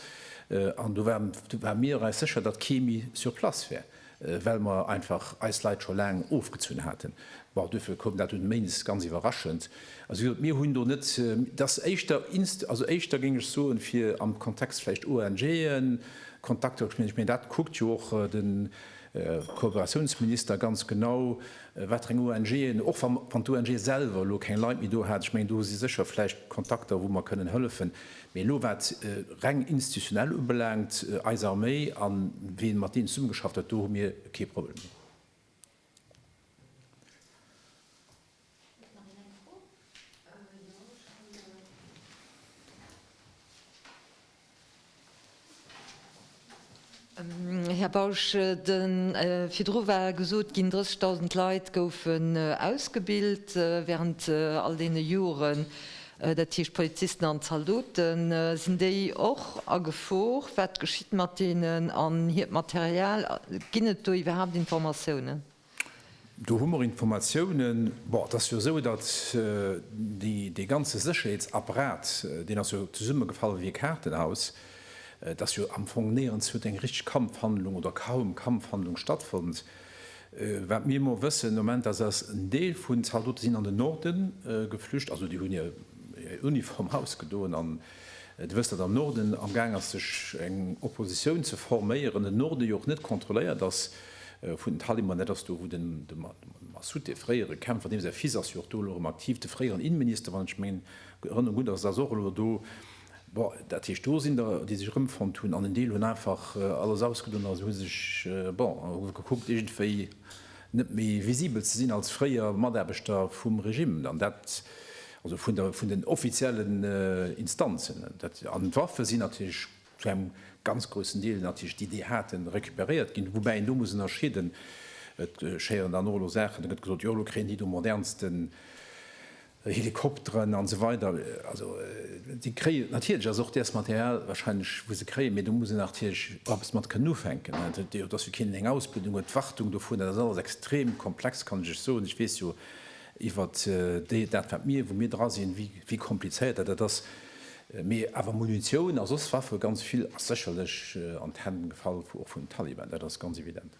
an do ware mir eis sécher, datt kee méi sur place wär, well mer einfach eis Leit scho laang ofgezunn haten. Bon, duerfir koum dat dunn Méindes ganz iwwerraschend. Also wéi gesot, mir hunn do net, dat ass éischter, also éischter géing ech soen, fir am Kontext vläicht ONGen, Kontakter, ech meen, dat kuckt jo och den Kooperatiounsminister ganz genau, wat fir eng ONGen, och wann d'ONGe selwer elo keng Leit méi do hat, ech mengen, do si sécher vläicht Kontakter, wou mer kënnen hëllefen. Mee elo, wat reng institutionell ubelaangt, eis Arméi a wien mat deenen zesummegeschafft huet, do hu mir kee Problem. Huet nach een eng Fro? Jo, ech kann de Här Bausch, de virdru war gesot ginn, 30.000 Leit goufen ausgebilt während all deene Joren, dat heescht d'Polizisten an d'Zaldoten. Sinn déi och a Gefor? Wat geschitt mat deenen an hiert Material? Ginn et do iwwerhaapt Informatiounen? Do hu mer Informatiounen, bon, et ass jo esou, datt dee ganze Sécherheetsapparat, deen ass jo zesummegefall wéi e Kaartenhaus, et ass jo am Fong néierens huet eng richteg Kampfhandlung oder kaum Kampfhandlung stattfonnt. Wat mir emol wëssen am Moment, ass, ass en Deel vun Zaldote sinn an den Norden geflücht, also déi hunn hir Uniform ausgedoen an, Der wësst, datt am Norden amgaang ass, sech eng Oppositioun ze forméieren, den Norde jo och net kontrolléiert ass vun den Taliban. Dat ass do, wou de Massoud, dee fréiere Kämpfer, deem säi Fils ass jo och do elo erëm aktiv, de fréieren Innenminister, wann ech meng Erënnerung gutt ass, ass och elo do. Bon, dat heescht, do sinn der, déi sech erëmfonnt hunn, an en Deel hunn einfach alles ausgedoen a hu sech, bon, hu gekuckt, iergendwéi net méi visibel ze sinn als fréier Mataarbechter vum Regime, an dat also vun den offiziellen Instanzen. An d'Waffe sinn natierlech zu engem ganz groussen Deel natierlech, déi déi haten, recuperéiert ginn. Woubäi een do muss ënnerscheeden, et geschéieren dann och elo Saachen, da gëtt gesot, jo elo kréien déi do modernsten Helikopteren an esou weider, also déi kréien natierlech, ass och däers Material wahrscheinlech wou se kréien, mee do muss een natierlech eppes mat kënnen ufänken. Et huet jo, et ass jo keen deen eng Ausbildung huet, d'Wartung dovun, dat ass alles extrem komplex, kann ech lech soen. Ech weess jo iwwert déi, dat wat mir, wou mir dra sinn, wéi, wéi komplizéiert dat dat ass. Mee awer Munitioun a soss Waffe, ganz vill ass sécherlech an d'Hänn gefall vu, och vun den Taliban, dat ass ganz evident.